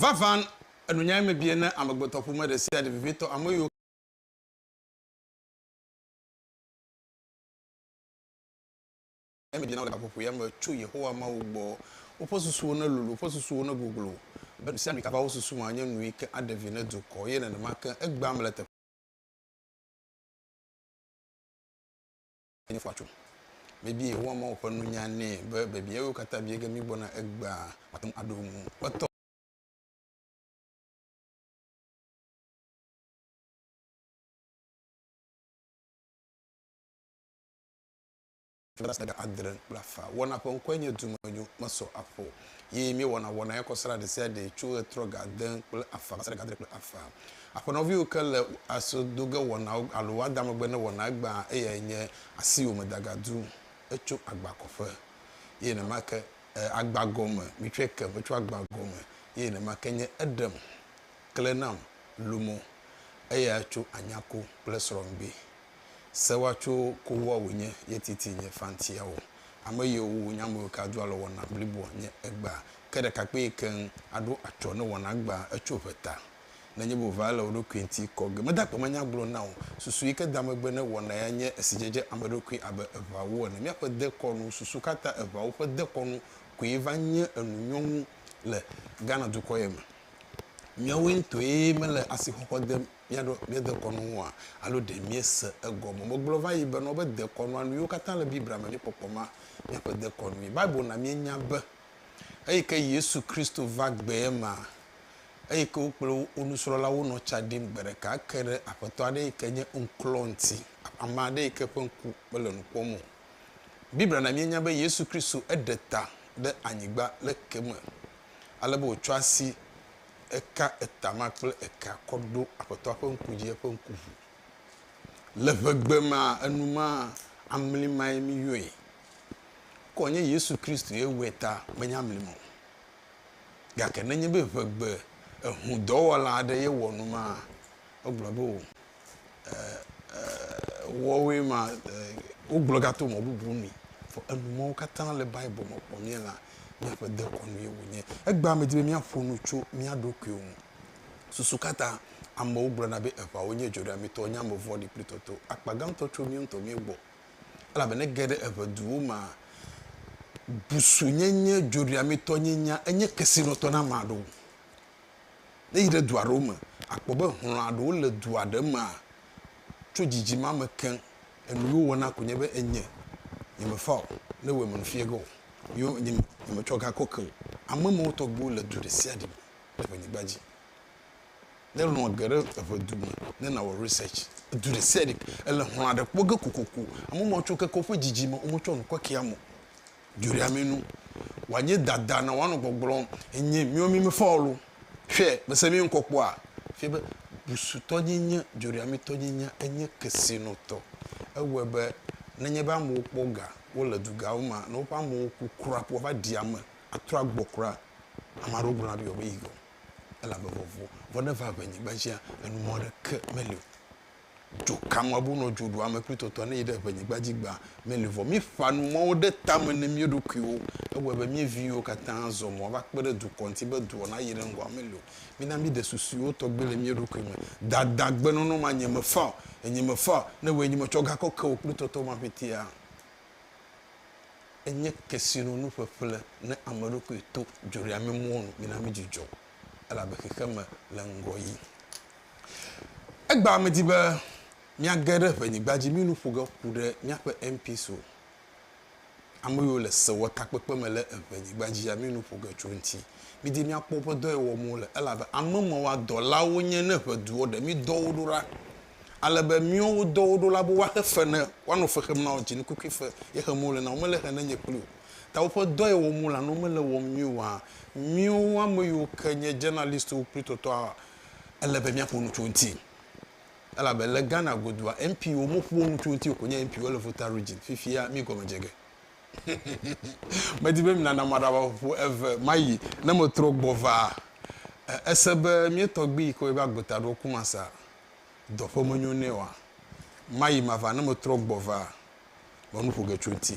Vavã, enunyae mebie ne amegbetɔƒome ɖesiaɖe vevitɔ, ame yiwo ke. Enyae mebie na wo le gaƒoƒoea me tso Yehowa Mawu gbɔ. Woƒe susuwo nelolo, woƒe susuwo negoglo, be nu sia nu si va wo susu me anye nui ke aɖe vi ne dukɔ, eye nenema ke egbea mele teƒe. Enye fɔatsu. Mebia Yehowa Mawu ƒe nunya nɛ be biabia yiwo katã bia ge míegbɔna egbea, wòate ŋu aɖo eŋu. Etɔ. Flaga adre kple afã wɔna ƒe ŋkɔe nye Dumenyo Mesɔ Aƒo ye míewɔna wɔna ya kɔsrã ɖesiaɖe tso ɣetrɔ ga ade kple afã va se ɖe ga adre kple afã. Aƒenɔviwo ke le aso do ge wɔnawo alo woada megbe ne wɔna gbã eyae nye asiwome dagadu etso agba kɔƒe eye nenema ke agba gɔme mitsɔe kem etso agba gɔme eye nenema ke nye eɖem kle nam lumo eya tso anyako kple srɔ̃ŋgbee. Sewa tso kowoa wò nye ye titi nye fantia o. Ame yiwo wu nye ame ka do alɔ wɔna bliboa nye egba ke ɖekakpee keŋ aɖo atsɔ ne wɔna gba etso ʋe ta. Ne nye bo va ele wò ɖokui ŋti kɔ ge meda gbe manya gblɔ na wò susu yi ke da megbe ne wɔna ya nye esi dzedze ame ɖokui abe eʋawo ene miaƒe de kɔnu susu ka ta eʋawo ƒe de kɔnu koe va nye enu nyɔŋu le Ghana dukɔ ye me miawoe ŋtoe mele asixɔxɔ dem míaɖo mía dekɔnu ŋua? Alo ɖe míese egɔme? Megblɔ va yi be nɔ be dekɔnua nu yiwo katã le Biblia me mí kpɔkpɔ ma míaƒe dekɔnui. Bible na míenya be eyi ke Yesu Kristo va gbea ma eyi ke wo kple wo nusrɔlawo nɔ tsa ɖim gbe ɖeka ke ɖe aƒetɔ aɖe yi ke nye ŋklɔ ŋuti, ame aɖe yi ke ƒe ŋku mele nu kpɔm o. Biblia na míenya be Yesu Kristo eɖe ta ɖe anyigba le ke me ale be wòtsɔ asi eka etama kple eka kɔ ɖo Aƒetɔa ƒe ŋku dzi, eƒe ŋku ʋu. Le ʋegbe ma enu ma amli mae mi yɔe. Ke wònye Yesu Kristoe wɔe ta menye amli ma o. Gake nenye be ʋegbe ehudɔwɔla aɖe ye wɔ nu ma, egblɔ be o. wɔwoe ma wogblɔ ga to mɔ bubu nu. Vɔ enu mɔwo katã le Bible me kpɔ mía la míaƒe dekɔnu ye wonye. Egbea me di be míaƒo nu tso mía ɖokuiwo ŋu. Susu ka ta amewo gblɔna be eŋawo nye dzoɖeamitɔwo, nye ame vɔ̃ɖi kple tɔtɔwo? Akpa gãtɔ tso míawo ŋutɔ míawo gbɔ. Elabe ne ege ɖe eŋe duwo mea, busunyenye, dzoɖeamitɔnyenya enye kesinɔtɔ na ame aɖewo. Ne èyi ɖe du aɖewo me, àkpɔ be hlɔ̃a ɖewo le dua ɖe mea, tso dzidzi ma me ke, enu yewo wɔna koe nye be, Enye, nyemefa o, ne ewɔe menu fiƒe ge o. Yo, nye, nyemetsɔ ga kɔ ke o. Ame ma wo tɔgbuiwo le du ɖe sia ɖe me le ƒe nyigba dzi. Ne hlɔ̃ ge ɖe eƒe du me, ne nawɔ research, edu ɖe sia ɖe, ele hlɔ̃a ɖe kpɔ ge kokoko. Ame ma wo tsɔ keke woƒe dzidzi me, wometsɔ nu kɔkea me o. Dzoɖeamenu. Wòanye dada na wò anɔ gbɔgblɔm, Enye míwo mí me fɔ loo. Hwɛ, mese mí ŋkɔ kpɔa? Fia be busutɔnyenye, dzoɖeametɔnyenya enye kesinɔtɔ. Ewɔe be nenye be amewo kpɔ ga, wole dugawo mea, ne woƒe amewo ku kura ko woava ɖi ame atrɔ agbɔ kura, ame aɖewo gblɔna be yewoabe yi ge o, elabe vɔvɔ̃ ne va ŋenye gbadzia, enumɔ aɖeke meli o. Tso Kamuabu nɔ dzo ɖu ame kple tɔtɔa ne yi ɖe eƒe nyigba dzi gbã meli vɔ. Mí ƒã nu mɔwo ɖe tame ne mía ɖokuiwo. Ewɔe be mía viwo katã zɔ mɔ va kpe ɖe dukɔ ŋuti be dua na yi ɖe ŋgɔ ame li o. Mí na mí ɖe susuiwo tɔgbe le mía ɖokui me. Dada gbe nɔnɔ ma nye me faa o. Enye me faa o. Ne wòe nye me tsɔ ga kɔ ke wò kple tɔtɔ ma ƒetea? Enye kesinɔnu ƒeƒle ne ame ɖokui to dzoreame mɔnu. Mí na mí dzudzɔ elabe xexeme le ŋgɔ yi. Egbea medi be míage ɖe ʋenyigba dzi mí nu ƒo ge ku ɖe míaƒe MPs o. Ame yiwo le sewɔtakpekpe me le ʋenyigba dzi ya mí nu ƒo ge tso eŋuti. Midi míakpɔ woƒe dɔ yi wɔm wole elabe ame mawoa dɔla wonye ne ʋe du woɖe mí dɔ wo ɖo ɖa. Ale be míwo wo dɔ wo ɖo la be woaxe fe ne woanɔ fe xem na wo dzinukukui fe ye xem wole na wo mele xe ne nye kpli o. Ta woƒe dɔ yi wɔm wole alo mele wɔm nyuie oa míwo ame yiwo ke nye journalistwo kpli tɔtɔa Ele be míaƒo nu tso eŋuti elabe le Ghana godua, MPwo moƒoa nu tso eŋuti o, wònye MPwo le Volta Region. Fifia míegɔme dze ge. Medi be minana maɖaʋaƒoƒo eve mayi ne metrɔ gbɔ va. Èse be mía tɔgbui yi ke woyɔe be Agbeta ɖo Kumasa dɔ ƒe menyo nɛ oa? Mayi mava ne metrɔ gbɔ va, me nu ƒo ge tso eŋuti.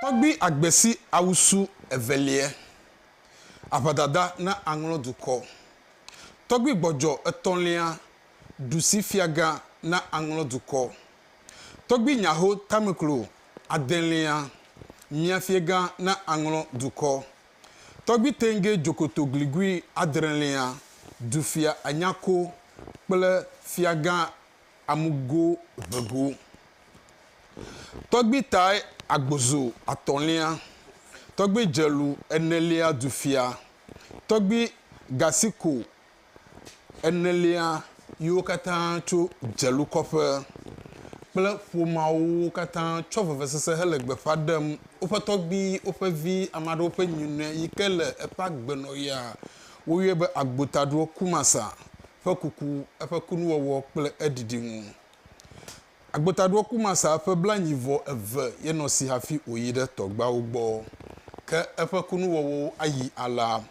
Tɔgbi agbesi awusu eveliɛ. Aʋadada na aŋlɔ dukɔ. Tɔgbi gbɔdjɔ etɔlia ɖusi fiaga na aŋlɔ dukɔ. Tɔgbi nyaho tameklo adelia mia fiega na aŋlɔ dukɔ. Tɔgbi tenge djokoto gligui adrelia dufia anyako kple fiaga amugo ʋe go. Tɔgbi tae agbozo atɔ̃lia, tɔgbi dzelu enelia du fia, tɔgbi gasiko enelia yiwo katã tso dzelu kɔƒe kple ƒomeawo katã tsɔ vevesese hele gbeƒã ɖem woƒe tɔgbi, woƒe vi, ame aɖewo ƒe nyinɔe yike le eƒe agbenɔɣia. Woyɔe be Agbotaɖoɔ Kumasa ƒe kuku, eƒe kunuwɔwɔ kple eɖiɖi ŋu. Agbotaɖoakumasa ƒe blanyi vɔ eve ye nɔ si hafi wòyi ɖe tɔgbeawo gbɔ. Ke eƒe kunuwɔwɔwo ayi alea.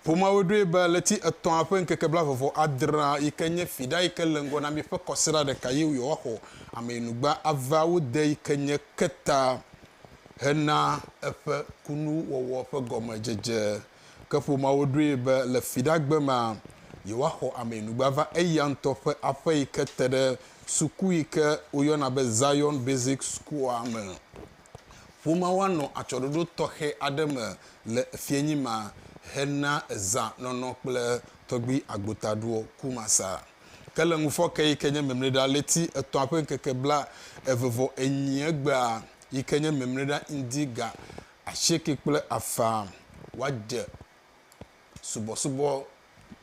Ƒomeawoe ɖoe be ɣleti etɔ̃a ƒe ŋkeke blaeve vɔ adrea, yi ke nye fiɖa yi ke le ŋgɔ na míaƒe kɔsiɖa ɖeka ye yewoaxɔ ameyinugba avea wo de yi ke nye keta hena eƒe kunuwɔwɔ ƒe gɔmedzedze Ke ƒomeawo ɖoe be le Fiɖagbe mea, yewoaxɔ ameyinugba va eya ŋutɔ ƒe aƒe yi ke te ɖe suku yi ke woyɔna be Zion Basic School-a me. Ƒomeawo anɔ atsyɔ̃ɖoɖo tɔxɛ aɖe me le fiẽnyi ma hena zã nɔnɔ kple tɔgbui agbotaɖoɔ Kumasa. Ke le ŋufɔke yi ke nye Mimliɖa ɣleti etɔ̃a ƒe ŋkeke bla eve vɔ enyi egbea yi ke nye Mimliɖa Ŋdi ga Asieke kple afã woadze subɔsubɔ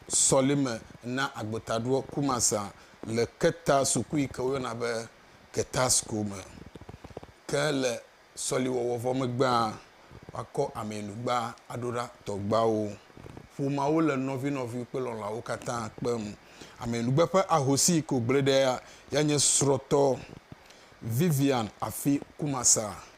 sɔlime na agbetaɖoa Kumasa le Keta suku yi ke woyɔna be Keta School me. Ke le sɔliwɔwɔ vɔ megbea, woakɔ ameyinugba aɖo ɖa tɔgbuawo. Ƒomeawo le nɔvinɔvi kple lɔlɔ̃awo katã kpem. Ameyinugba ƒe ahosi yi ke wògblẽ ɖea yae nye srɔ̃tɔ Vivian Afi Kumasa.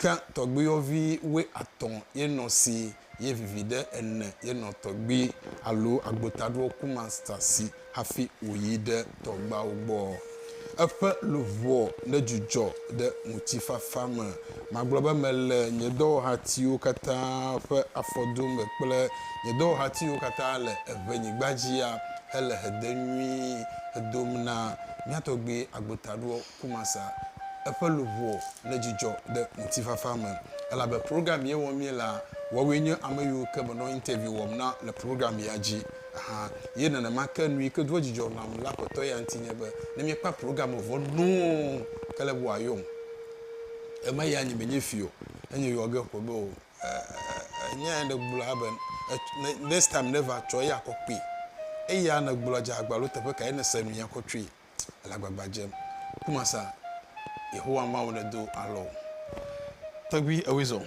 Ke tɔgbiyɔvi woe atɔ̃ ye nɔ si ye viviɖe ene ye nɔ tɔgbi alo agbotaɖoɔ kumasta si hafi wòyi ɖe tɔgbawo gbɔ. Eƒe luʋɔ nedzudzɔ ɖe ŋutifafa me. Magblɔ be mele nye dɔwɔhatiwo katã ƒe afɔdo me kple nye dɔwɔhatiwo katã le eŋɛnyigba dzia hele hede nyui hedom na mía tɔgbi agbotaɖoɔ Kumasa, eƒe luʋɔ le dzidzɔ ɖe ŋutifafa me elabe program ye wɔm míelea, woawoe nye ame yiwo ke menɔ interview wɔm na le program ya dzi hã. Ye nenema ke nuyi ke doa dzidzɔ nam le Aƒetɔ ya ŋuti nye be ne míekpɔa program vɔ nɔɔ, kele be wòayɔm. Eme ya nye menye fi o, enye yɔ ge ƒo be o. Eeeeee nya ya nègblɔ ya be next time ne va tsɔ eya kɔ kpee. Eya nègblɔ dze agba alo teƒe kae nèse nu ya kɔ tsoe. ele agbagba dzem. Ku masa Yehowa Mawu nedo alɔ o. Tɔgbui ewoe zɔ.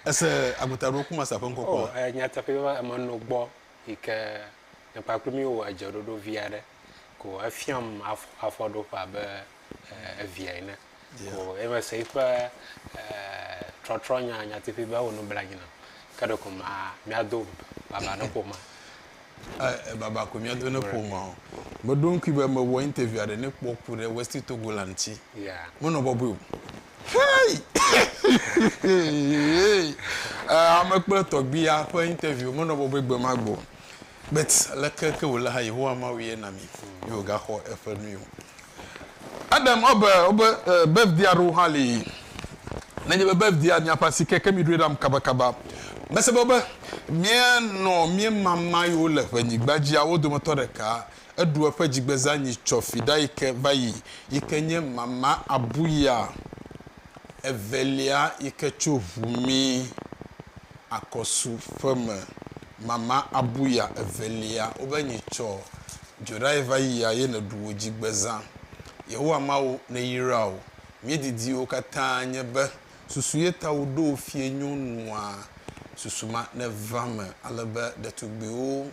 Ese agota ɖo ku masa ƒe ŋkɔ kpɔ. Oh, eh, nyateƒe be ame no gbɔ yi ke ne kpakple mi wɔ edzeɖoɖo vi aɖe ko efiam afɔ afɔɖoƒe abe eh, evia ene. o. Eye mese eƒe trɔtrɔnya nyateƒee be ewɔ nublanui nam. Ke ɖeko míado baba ne ƒomea? Ẽ, baba koe míado ne ƒomea. Meɖo ŋkui be mewɔ interview aɖe ne kpɔ ku ɖe Westy Togola ŋuti. Menɔ bɔbɔe o. Hey! Ame kple tɔgbia ƒe interview menɔ bɔbɔe gbemagbe o. Bet, aleke ke wòle hã, Yehowa Mawu ye na mi be wògaxɔ eƒe nui o. Adam wobe wobe birthday aɖewo hã li. Nenye be birthday miaƒe asi ke, ke miɖoe ɖam kabakaba. Mese be wobe míenɔ míemama yi wole ƒe nyigba dzia, wo dometɔ ɖeka eɖu eƒe dzigbezanyi tsɔ fi ɖa yi ke va yi, yi ke nye mama abuya. evelia yi ke tso ʋu mí akɔsu ƒe me, mama abuya evelia, wobe nyi tsɔ dzoɖae va yia ye neɖu wò dzi gbe zã. Yehowa Mawu neyra wò. Mí didiwo katã nye be susu ye ta wo ɖo wo fie nyo nua susu ma neva me ale be ɖetugbiwo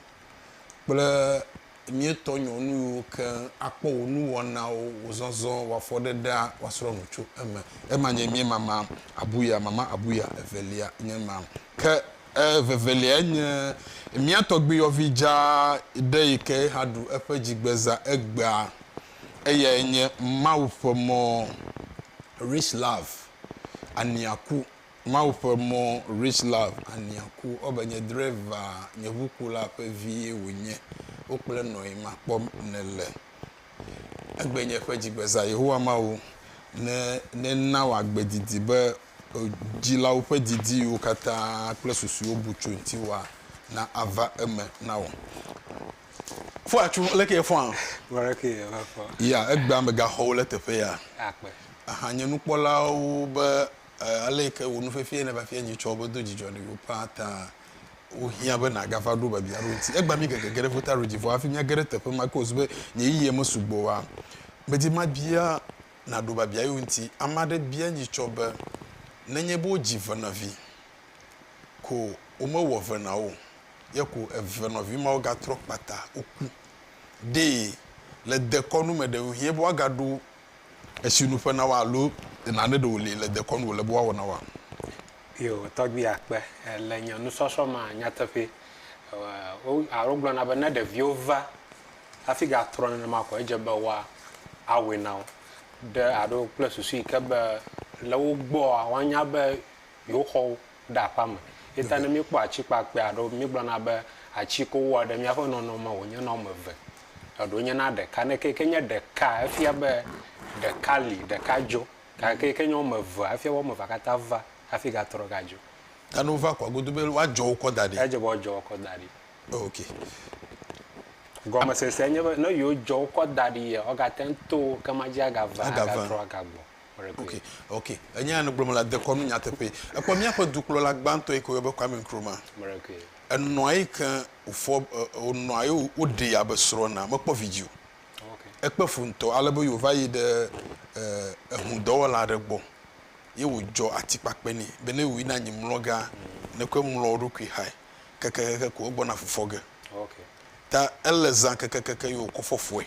kple. Míetɔ nyɔnuwo keŋ akpɔ wò nuwɔnawo, wò zɔzɔ, wò afɔɖeɖea, woasrɔ̃ nu tso eme. Ema nye mía mama abuya, mama abuya evelia nye ema. Ke eveveliae nye mía tɔgbuiyɔvi dzaa ɖe yi ke hã ɖu eƒe dzigbezã egbea. Eyae nye Mawu ƒe mɔ. Rich Love, Ania ku. Mawu ƒe mɔ Rich Love Ania ku ɔbe nye dreva nye ʋu ku la ƒe vi ye wo nye wo kple nɔyi ma kpɔ ne le egbe nye ƒe dzigbeza Yehowa Mawu ne ne na wo agbe didi be o dzi la wo ƒe didi yiwo katã kple susu wo bu tso ŋti wa na a va eme na wo fɔ atso le ke ye fɔ a wa le ke ye va fɔ ya egbea me ga xɔ wo le teƒe ya a kpe a hã nye nukpɔla wo be Ale yi ke wò nu fefie nèva fia nyitsɔ wò be do dzidzɔ na yewo ƒã ta wohiã be nàgava ɖo biabia aɖewo ŋuti. Egbã mí gegege ɖe ƒuta Regi vɔ hafi míage ɖe teƒe ma ake wòzu be nye yiyiɣi mesugbɔ oa? Medi mabia nàɖo biabia yewo ŋuti. Ame aɖe bia nyitsɔ be, Nenye be wodzi venavi ko womewɔ ve na wo o ye ko eve nɔvi mawo gatrɔ kpata woku ɖee le dekɔnu me ɖe, ŋuhiã be woagaɖo Esi nuƒe na wo alo nane ɖe wòli le dekɔnu wòle be woawɔ na woa? Yo, tɔgbui akpe le nye nusɔsrɔ̃ me nyateƒee. Wo, alo wogblɔna be ne ɖeviwo va hafi gatrɔ nenema koa, edze be woa, awɔe na wo. Ɖe, aɖo kple susu yi ke be le wo gbɔa, woanya be yewo xɔwo ɖe aƒea me. Ye ta ne míekpɔ atikpakpɛ aɖewo, míegblɔna be ati ko wowɔ ɖe míaƒe nɔnɔme wònye na woame eve, eɖewo nye na ɖeka. Ne ke ke nye ɖeka, efia be ɖeka li, ɖeka dzo. Gake ke ke nye woame evea, efia be woame evea katã va hafi gatrɔ gadzo. Ta ne wova kɔa, godo be woadzɔ wo kɔ da ɖi. Edze be woadzɔ wo kɔ da ɖi. Ok. Gɔmesesea nye be, ne yewodzɔ wo kɔ da ɖi yia, wogate ŋu to wo, ke madzi agava, agatrɔ agagbɔ. Okay, okay. Enya ya nègblɔ me la dekɔ nu nyateƒee. Èkpɔ míaƒe dukplɔla gbãtɔ yi ke woyɔ be Kwame Nkrumah. Mɖekee. Enɔa yi ke wòfɔ wònɔa ye woɖee abe srɔ̃ ene. Mekpɔ vidzĩ o. Okay. Ekpe fu ŋutɔ ale be yewòva yi ɖe ehudɔwɔla aɖe gbɔ ye wòdzɔ atikpakpɛ nɛ be ne wòyina anyi mlɔ gea, nèkɔe mlɔ wò ɖokui xae. Kekekeke ko egbɔna fufɔ ge. Okay. Ta ele zã kekekeke ye wòkɔ fɔ fɔe.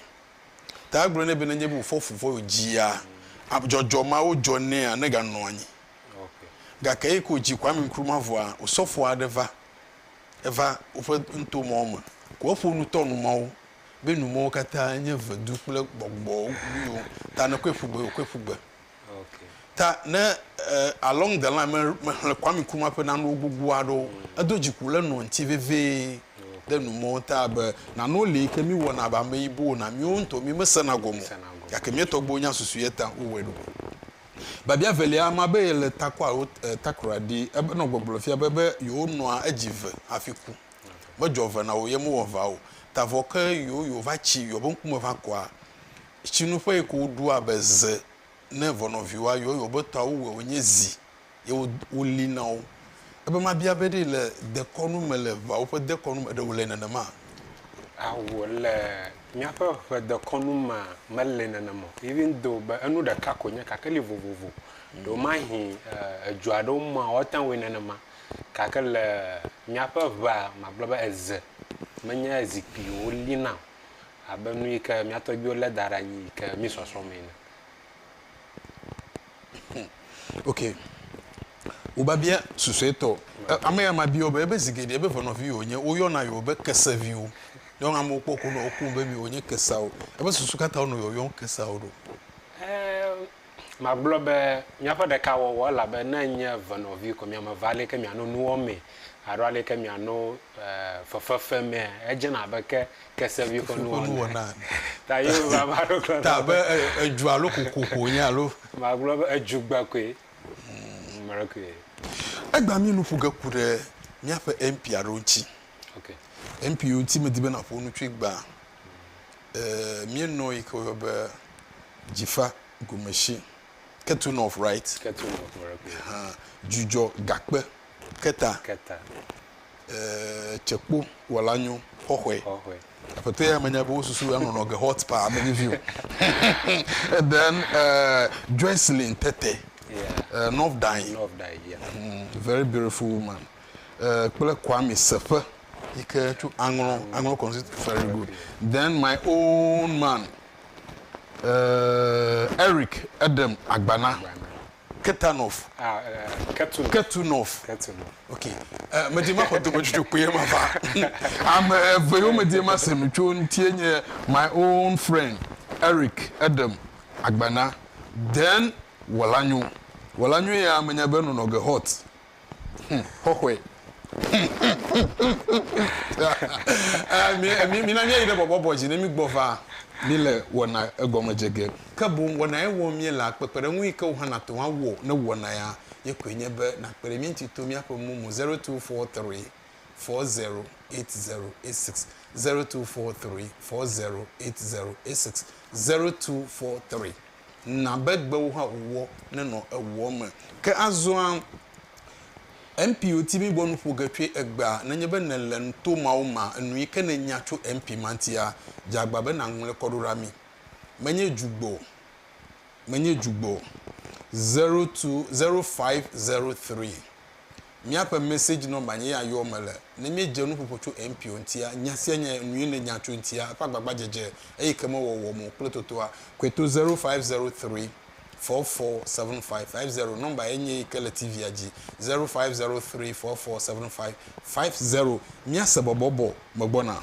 Ta egblɔ nɛ be nenye be wòfɔ fu vɔ ye wòdzia ame dzɔdzɔ mawo dzɔ nɛa, neganɔ anyi. Gake eyi ke wòdzi ko ami ŋkru ma vɔa, osɔfo aɖe va. Eva woƒe nuto mawo me. Ko eƒo nu tɔ nu mawo be nu mawo katã nye vedu kple gbɔgbɔ nyuiwo. Ta nekɔe ƒu gbe, wòkɔe ƒu gbe. Ta ne along the line me mexlẽ Kwame Nkrumah ƒe nanewo gbogbo aɖewo, edo dziku le nɔ ŋuti vevie ɖe nu mɔ ta be nanewo li yi ke mi wɔna abe ameyibowo na miwo ŋutɔ mi me sena gɔme o gake mia tɔgbuiwo nya susu ye ta wo wɔe ɖo. Biabia velia ama be ye le takɔ alo takra ɖi ebe nɔ gbɔgblɔ fia be be yewo nɔa edzi ve hafi ku. Medzɔ ve na wo ye me wɔ va o ta vɔ ke yo yo va tsi yo be ŋkume va kɔa Tsinuƒe yi ke woɖo abe ze ne ʋɔnɔviwo ayɔ eye wobe tɔa wowɔe wonye zi ye wolĩ na wo. Ebe mabia be ɖe le dekɔnu me, le ʋeawo ƒe dekɔnu me ɖe wòle nenema? Ao, le míaƒe ʋe dekɔnu mea, mele nenema o. Even though be enu ɖeka koe nye gake li vovovo. Ɖewomahĩ edua aɖewo mea woate ŋu awɔe nenema gake le míaƒe ʋea magblɔ be eze menye zikpuiwo wolĩna o. abe nu yi ke mía tɔgbuiwo lé da ɖe anyi yi ke mí sɔsrɔ̃ mee ene. Ok. Wò biabia susuetɔ. Ame ya ma biɔ be ebe zi geɖe ebe venɔvi yewo nye, wo yɔna yewo be keseviwo. Nɔ amewo kpɔ ko nɔ wo ku be mi wo nye keseawo. Ebe susu katã wo nɔ yɔyɔm keseawo ɖo. Eee Magblɔ be míaƒe ɖeka wɔwɔ elabe ne enye ve nɔvi ko miame eve aleke miano nu wɔmee alo aleke miano fefe femea, edzena abe ke kesevi ƒe nuwɔna ene. Ta be edzu alo koko ko wonye alo? Magblɔ be edzu gbe koe. Egbea mi nu ƒo ge ku ɖe míaƒe MP aɖewo ŋuti. MP yiwo ŋuti medi be nàƒo nu tsoe gbã. Eee, míenɔ yi ke woyɔ be dzifa gome shi, kettle north right? Kettle north right. Hã, dzudzɔ gakpe keta. Keta. Eee, tsekpo wɔla nyo xɔxɔe. Xɔxɔe. Aƒetɔ ya menya be wo susu ya nɔnɔ ge hot pa ame vivi o. And then uh, Joycelyn Tete. Yeah. Uh, North Dai. North Dai, yeah. Mm, very beautiful woman. eh, kple Kwame Seƒe yi ke tso Aŋlɔ, Aŋlɔ constituency, very good. Then my own man, eh, Eric Edem Agbana, Ketanov, Ah, eh, Ketu. Ketunov. Ketu. Ok, eh, medi maxɔ dometsutsɔ kpuie ma va. Ame eve yiwo medi mase nu tso ŋutie nye my own friend Eric Edem Agbana, then Wɔlanyo. Wɔlanyo ya menya be nɔnɔ ge hot. Hm, xɔxɔe. Eh, mina míayi ɖe bɔbɔbɔ dzi ne mígbɔ va míle wɔna egɔme dze ge. Ke boŋ wɔna ye wɔm míelea, kpekpeɖeŋu yi ke wò hã nàte ŋu awɔ ne wɔna ya ye koe nye be nàkpe ɖe mí ŋuti to míaƒe mo mo zero two four three four zero eight zero eight six zero two four three four zero eight zero eight six zero two four three. na be gbewo hã wòwɔ nenɔ ewuɔ me. Ke azɔa, MP wòti mí gbɔ nu ƒo ge tsoe egbea, nenye be nèle nu to mawo mea, enu yi ke nènya tso MP ma ŋutia, dze agba be nàŋlɔe kɔ ɖo ɖa mí. Menye dzugbɔ o. Menye dzugbɔ o. Zero two, zero five zero three. Míaƒe message number nye ya yɔɔ mele. Ne míedze nuƒoƒo tso MPO ŋutia, nya sia nya nue nènya tso eŋutia, eƒe agbagbadzedze, eye ke mewɔwɔ mo kple totoa, kɔe to zero five zero three, four four seven five five zero. Number ye nye yi ke le TV-a dzi, zero five zero three, four four seven five five zero. Míase bɔbɔbɔ megbɔna.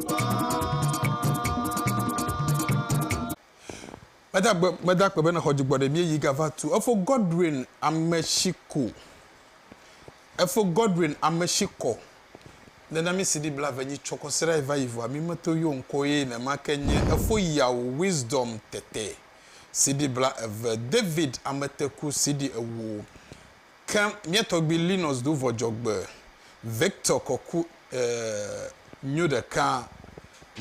Meda gbe meda gbe be nexɔ dzigbɔ ɖe mie yi gava tu efo Godwin Ameshiko efo Godwin Ameshikɔ nena mi CD blave nyi tsɔ kɔ sera eva yi vɔa mi meto yo ŋkɔ ye ne ma ke nye efo yawo Wisdom tete CD bla eve David Ameteku CD ewo Ke mía tɔgbui Linus do vɔ dzɔgbe, Victor kɔ ku e nyo ɖeka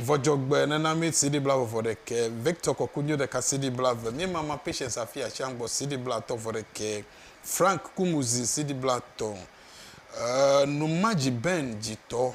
vɔ dzɔgbe nena mí CD bla ve vɔ ɖekɛ, Victor kɔ ku nyo ɖeka CD bla ve, mí mama Patience afi ashian gbɔ CD bla tɔ vɔ ɖekɛ, Frank ku muzi CD bla tɔ e nu ma dzi Ben dzi tɔ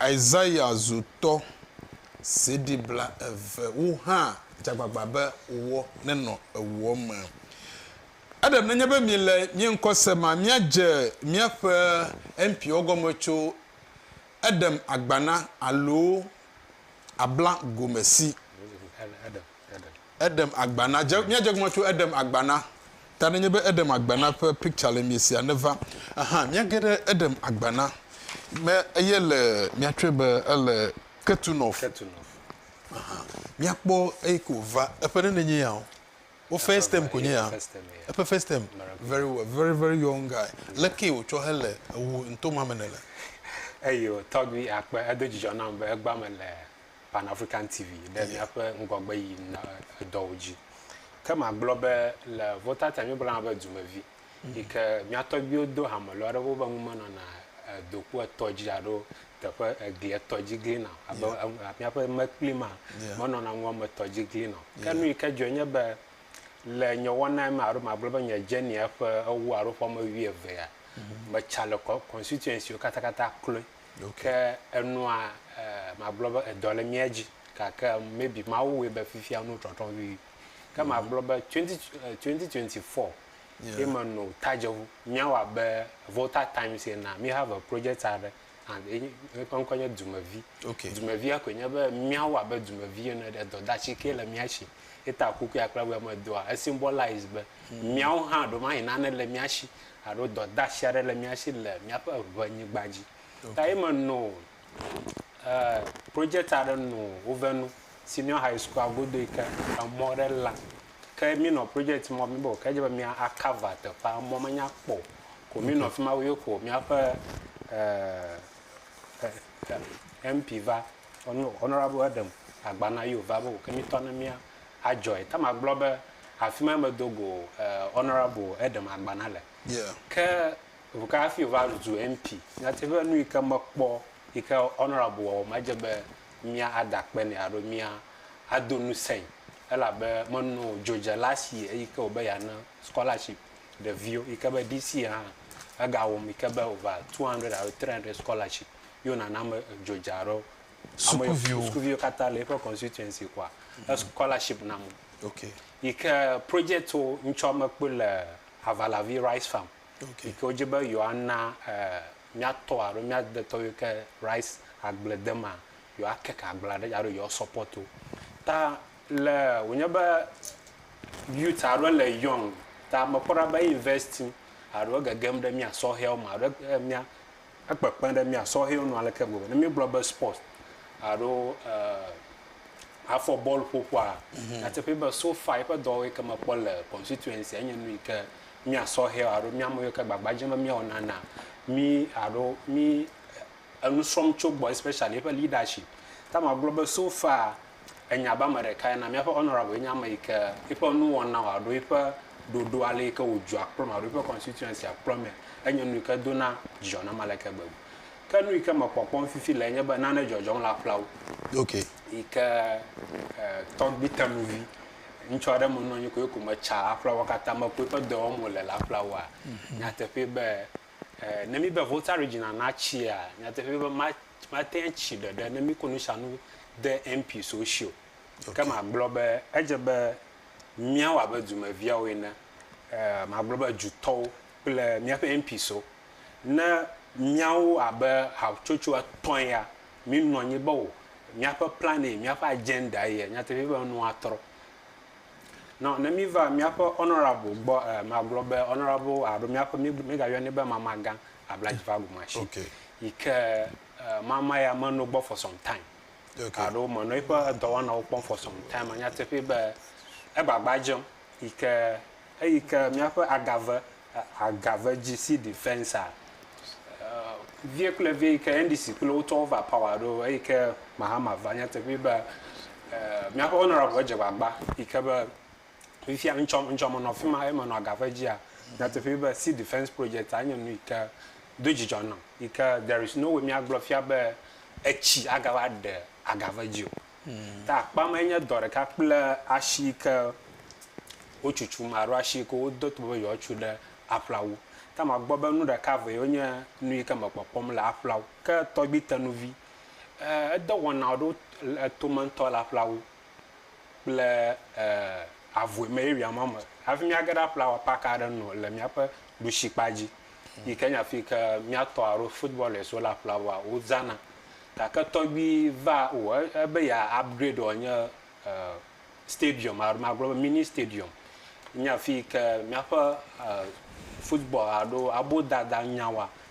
Isaya zu tɔ. CD blaeve wo hã dze agbagba be woɔ nenɔ ewuɔ me. Eɖem nenye be mi le mie ŋkɔ se ma, mia dze miaƒe MP-ɔ gɔme tso eɖem agbana alo abla gome si. Eɖem agba na, dze, míadze egɔme tso eɖem agba na. Ta nenye be eɖem agba na ƒe picture le mie sia neva. Aha, míage ɖe eɖem agba na. Me eye le míatsɔe be ele Ketunov. Ketunov. Aha, míakpɔ eyi ko va. Eƒe ɖe nenye ya o. Wo first term ko nye ya. Eƒe first term. Very well, very very young guy. Leke wotsɔ hele ewu ntoma me ne le? Eyi o, tɔgbi akpe, edo dzidzɔ nam be egba me le Pan African TV ɖe míaƒe ŋgɔgbe yi na edɔwo dzi. Ke magblɔ be le Votata míebla hã be dumevi mhm. yi ke mía tɔgbiwo do hame lɔ aɖe wobe ŋu menɔna doku etɔ dzi alo teƒe egli etɔ dzi glina abe míaƒe mekpli ma menɔna ŋua me tɔ dzi glina ke nu yi ke dzɔe nye be le nye wɔna me alo magblɔ be nye dzeni eƒe ewo alo ƒe ame wuievea mhm. metsa le constituency wo katakata kloe Ke enua magblɔ be edɔ le mía dzi gake maybe Mawu wɔe be fifia nu trɔtrɔ vivi. Ke mhm. magblɔ be 2024 ye me no tadzeʋu míawɔ abe Volta Times ena mi have a project aɖe and eƒe ŋkɔ nye dumevi. Okay. Dumevia koe nye be míawɔ abe dumevi ene ɖe dɔdatsi ke le mía si eta kukui akple be medoa esymbolize be mhm. míawo hã ɖomahi nane le mía si alo dɔdasi aɖe le mía si le míaƒe ŋenyigba dzi. Okay. Ta ye me nɔ e, project aɖe nɔ wove nu senior high school agodo yi ke emɔ aɖe la. Ke mi nɔ project mɔ mi bo ke dze be mía akava teƒea mɔ menya kpɔ ko mi nɔ fi ma wo ko míaƒe e, e, e, MP va honorable Adam agbana yo va bo ke mi tɔ ne mía adzɔe. Tamar gblɔ be, Afi mae medo go Honourable Adam Agbana le. Ke ŋu ka hafi wòva zu MP? Nyateƒee, nu yi ke mekpɔ yi ke Honourable wɔ o, medze be mía ada akpe nɛ alo mía ado ŋusẽe, elabe menɔ dzodzela si eyi ke wòbe yeana scholarship ɖeviwo yi ke be DC hã egawɔm yi ke be over 200 alo 300 scholarship ye wònana ame dzodzea aɖewo. sukuviwo katã le eƒe constituency kɔa mm. scholarship na mo okay. yi ke project wo ŋtsɔ mekpɔ le avalavi rice farm okay. yi ke wodze be yewoana eh, míatɔ alo míadetɔ yi ke rice agble de ma yewoakeke agblea ɖe alo yewoasɔpɔt wo ta le wònye be youth alo le young ta mekpɔ ɖa be investi alo gegem ɖe mía sɔhɛwo me alo eh, mía Ekpekpe ɖe mía sɔhɛwo nu aleke gbegbe! Ne míegblɔ be spɔt alo afɔ bɔl ƒoƒoa, nyateƒee be so far eƒe dɔwɔwɔ yi ke mekpɔ le constituency-a enye nu yi ke mía sɔhɛwo alo mía ame yiwo ke gbagba dzem be míawɔ nana mí alo mí enu srɔ̃m tso egbɔ especially eƒe leadership. Ta magblɔ be so far Enya be ame ɖekae na míaƒe Honorable ye nye ame yi ke eƒe nuwɔnawo alo eƒe ɖoɖo ale yi ke wòdzɔa kplɔ me alo eƒe constituency kplɔ me enye nu yi ke dona dzidzɔ nam aleke gbegbe. Ke nu yi ke mekpɔ kpɔm fifi lae nye be nane dzɔdzɔm le aƒlawu okay. yi ke e, tɔgbi tenuvi ŋutsu aɖe menɔ anyi ko eko metsa aƒlawua katã me ko eƒe dɔ wɔm wòle le aƒlawua. Nyateƒee be e, ne míbe Volta Regina natsia, nyateƒee be ma, Mate ŋu atsi ɖeɖe ne míkɔ nusianu de MP so ŋuti o. Ke magblɔ be edze be míawɔ abe dumeviawo ene, ɛɛ magblɔ be dutɔwo kple míaƒe MP so. Ne míawo abe hatsotso etɔ̃ ya mínɔ anyi be o, míaƒe plan ye, míaƒe agenda ye, nyateƒee be nu atrɔ. Nɔ ne míva míaƒe honourable gbɔ ɛɛ magblɔ be honourable alo míaƒe mígayɔnɛ be mamagã abla dzi va ɖu matsi okay. yi ke uh, mama ya menɔ gbɔ for some time okay. alo menɔ eƒe dɔwɔnawo kpɔm for some time anya teƒe be egbagba dzem yi ke eyi ke míaƒe agave uh, agave GC defense a uh, vie kple vie yi ke NDC kple wotɔwo va power ɖo eyi ke Mahama va anya teƒe be uh, míaƒe honorable dze gbagba yi ke be Fifia ŋtsɔ ŋtsɔ menɔ afi ma eye menɔ agaƒe dzia, nyateƒee be Sea Defense Project-a nye nu yi ke do dzidzɔ nam yi ke there is no way míagblɔ fia be etsi agava ɖe agaƒe dzi o. Ta akpa mae nye dɔ ɖeka kple asi yi ke wotutum alo asi yi ke wodo tobe be yewoatu ɖe aƒlawu. Ta magbɔ be nu ɖeka eve yewo nye nu yi ke mekpɔkpɔm le aƒlawu. Ke tɔgbui tenuvi, e, edɔwɔna aɖewo le etome ŋutɔ le aƒlawu. kple e avue me ye wia ma me hafi miage ɖa ƒlawa park aɖe nɔ le miaƒe ɖusi kpa dzi yi ke nya fi ke miatɔ alo footballers wo la ƒlawa wo zana gake tɔgbi va o ebe ya upgrade o nye e stadium alo magblɔ be mini stadium nya fi ke miaƒe e football alo abo dada nyawa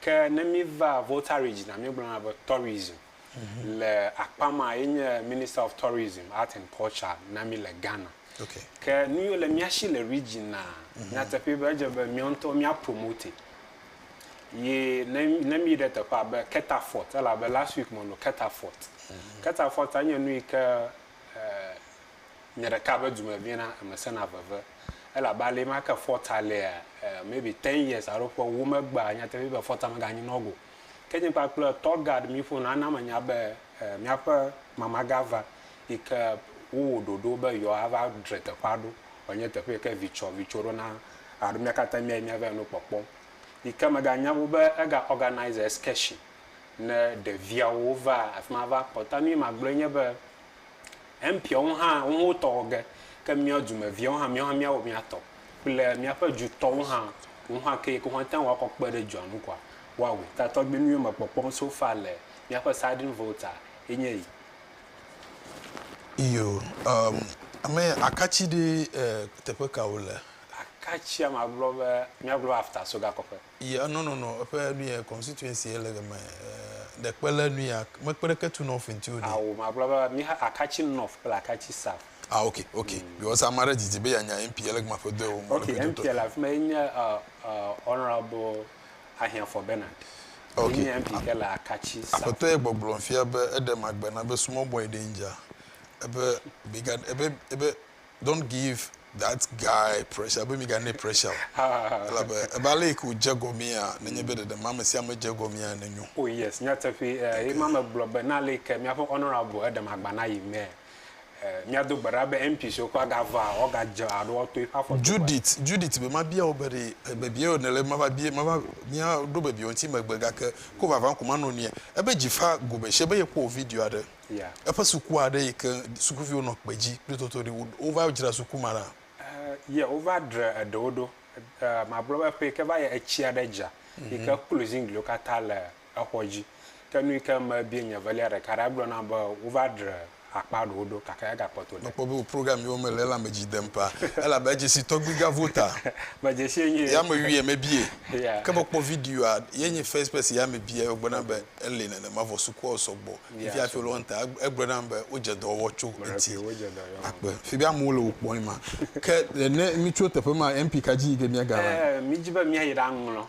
Ke ne míva Voltaridge na míegblɔna be tourism le akpa ma ye nye Minister of Tourism, Art and Culture na mí le Ghana. Okay. Ke nu yiwo le mía shi le region na nyateƒee be edze be míawo ŋutɔ mía promote. Ye ne ne míyi ɖe teƒe abe Keta Fort elabe last week menɔ Keta Fort. Keta Fort nye nu yi ke eh, Nye ɖeka be dume viena eme sena veve elabe ale ma ke fɔta lea eh maybe ten years alo ƒe ewo megbea nyateƒe nye be fɔta mega nyi nɔgo ke nye kpakple tour guide mi ƒo na na me nya be eh miaƒe mama ga va yike wo wɔ ɖoɖo be yɔ a va dre teƒea ɖo wɔ nye teƒe yike vi tsɔ vi tso ɖo na alo mia katã mia yi mia va yi nu kpɔkpɔ yike mega nya wu be ega organise excursion ne ɖeviawo va afima va kpɔ ta nu yi magblɔ nye be. Empiɔ ŋu hã ŋu wo tɔ wɔ ge, ke miɔ dume viɔ hã miɔ hã mia wɔ mia tɔ kple miaƒe dzu tɔ ŋu hã ŋu hã ke yike woate ŋu akɔ kpe ɖe dua ŋu kɔa wa wui. Ta tɔgbi nuyiwo me kpɔkpɔm so fa le miaƒe sardine volta ye nye yi. Iyo, um, ame akatsi ɖe, eh, teƒe ka wo le? Akatsia ma gblɔ be mia gblɔ be afta so gakɔƒe. Ye eno no no eƒe nu ye constituency ye le game eh, de kpe le nu ya me kpe ɖeke tu north ŋti o ɖi. Ao magblɔ be mi ha akatsi north kple akatsi south. Ah ok ok mm. because ame aɖe didi be yanya MP ye le game aƒe dɔe wɔm. Ok MP le afi ma ye nye uh, uh, honorable Ahiafo Bernard. Ok. Ye nye MP ke le akatsi south. Aƒetɔ ye gbɔgblɔm fia be eɖe magbe na be small boy danger ebe bigger ebe ebe Don't give that guy pressure be miganɛ pressure o. Ah. Elabe ebe ale yi ke wòdze gɔmea, nenye be ɖeɖe ame sia ame dze gɔmea nenyo. Oh yes, nyateƒee. Eh, Thank ye ma you. megblɔ be na ale yi ke míaƒe honorable Edem Agbana yi mee, eh, míado gbe ɖa be MP siwo ke woagava woagadze alo woato eƒe afɔ dzogoe. Judith, Judith be mabia wò be ɖe bebie wò nèle mava bie mava míaɖo bebie wò ŋuti megbe gake ko vavã ko manɔ nue. Ebe dzi fa go be shie be yekpɔ wò video aɖe. Yeah. Eƒe suku aɖe yi ke sukuviwo nɔ kpe dzi kple toto ɖi. Wo- Wova dzra suku ma ɖa. Eh, ye wova dre eɖewo ɖo. Eh, magblɔ be ƒe yi ke va yi etsi aɖe dza yi ke klo ziŋgliwo katã le exɔ dzi. Ke nu yi ke mebia nye velia ɖeka ɖe egblɔ nam be wova dre akpa ɖewo ɖo gake egakpɔtɔ ɖe. Mekpɔ be wò program yewo mele ela me dzi dem paa. Elabe edze si tɔgbui Gavota. Medze si enye. Ya mewuie mebie. Yeah. Ke mekpɔ videoa, ye nye first person ya mebie, egblɔ nam be ele nenema vɔ sukuawo sɔgbɔ. Via fi lɔ nta egblɔ nam be wo dze dɔ wɔ tso eti akpe fi bi amewo le wo kpɔ ma ke le ne mi tso teƒe ma MP ka dzi ke mia ga va eh, mi dzi be mia yi ɖa ŋlɔ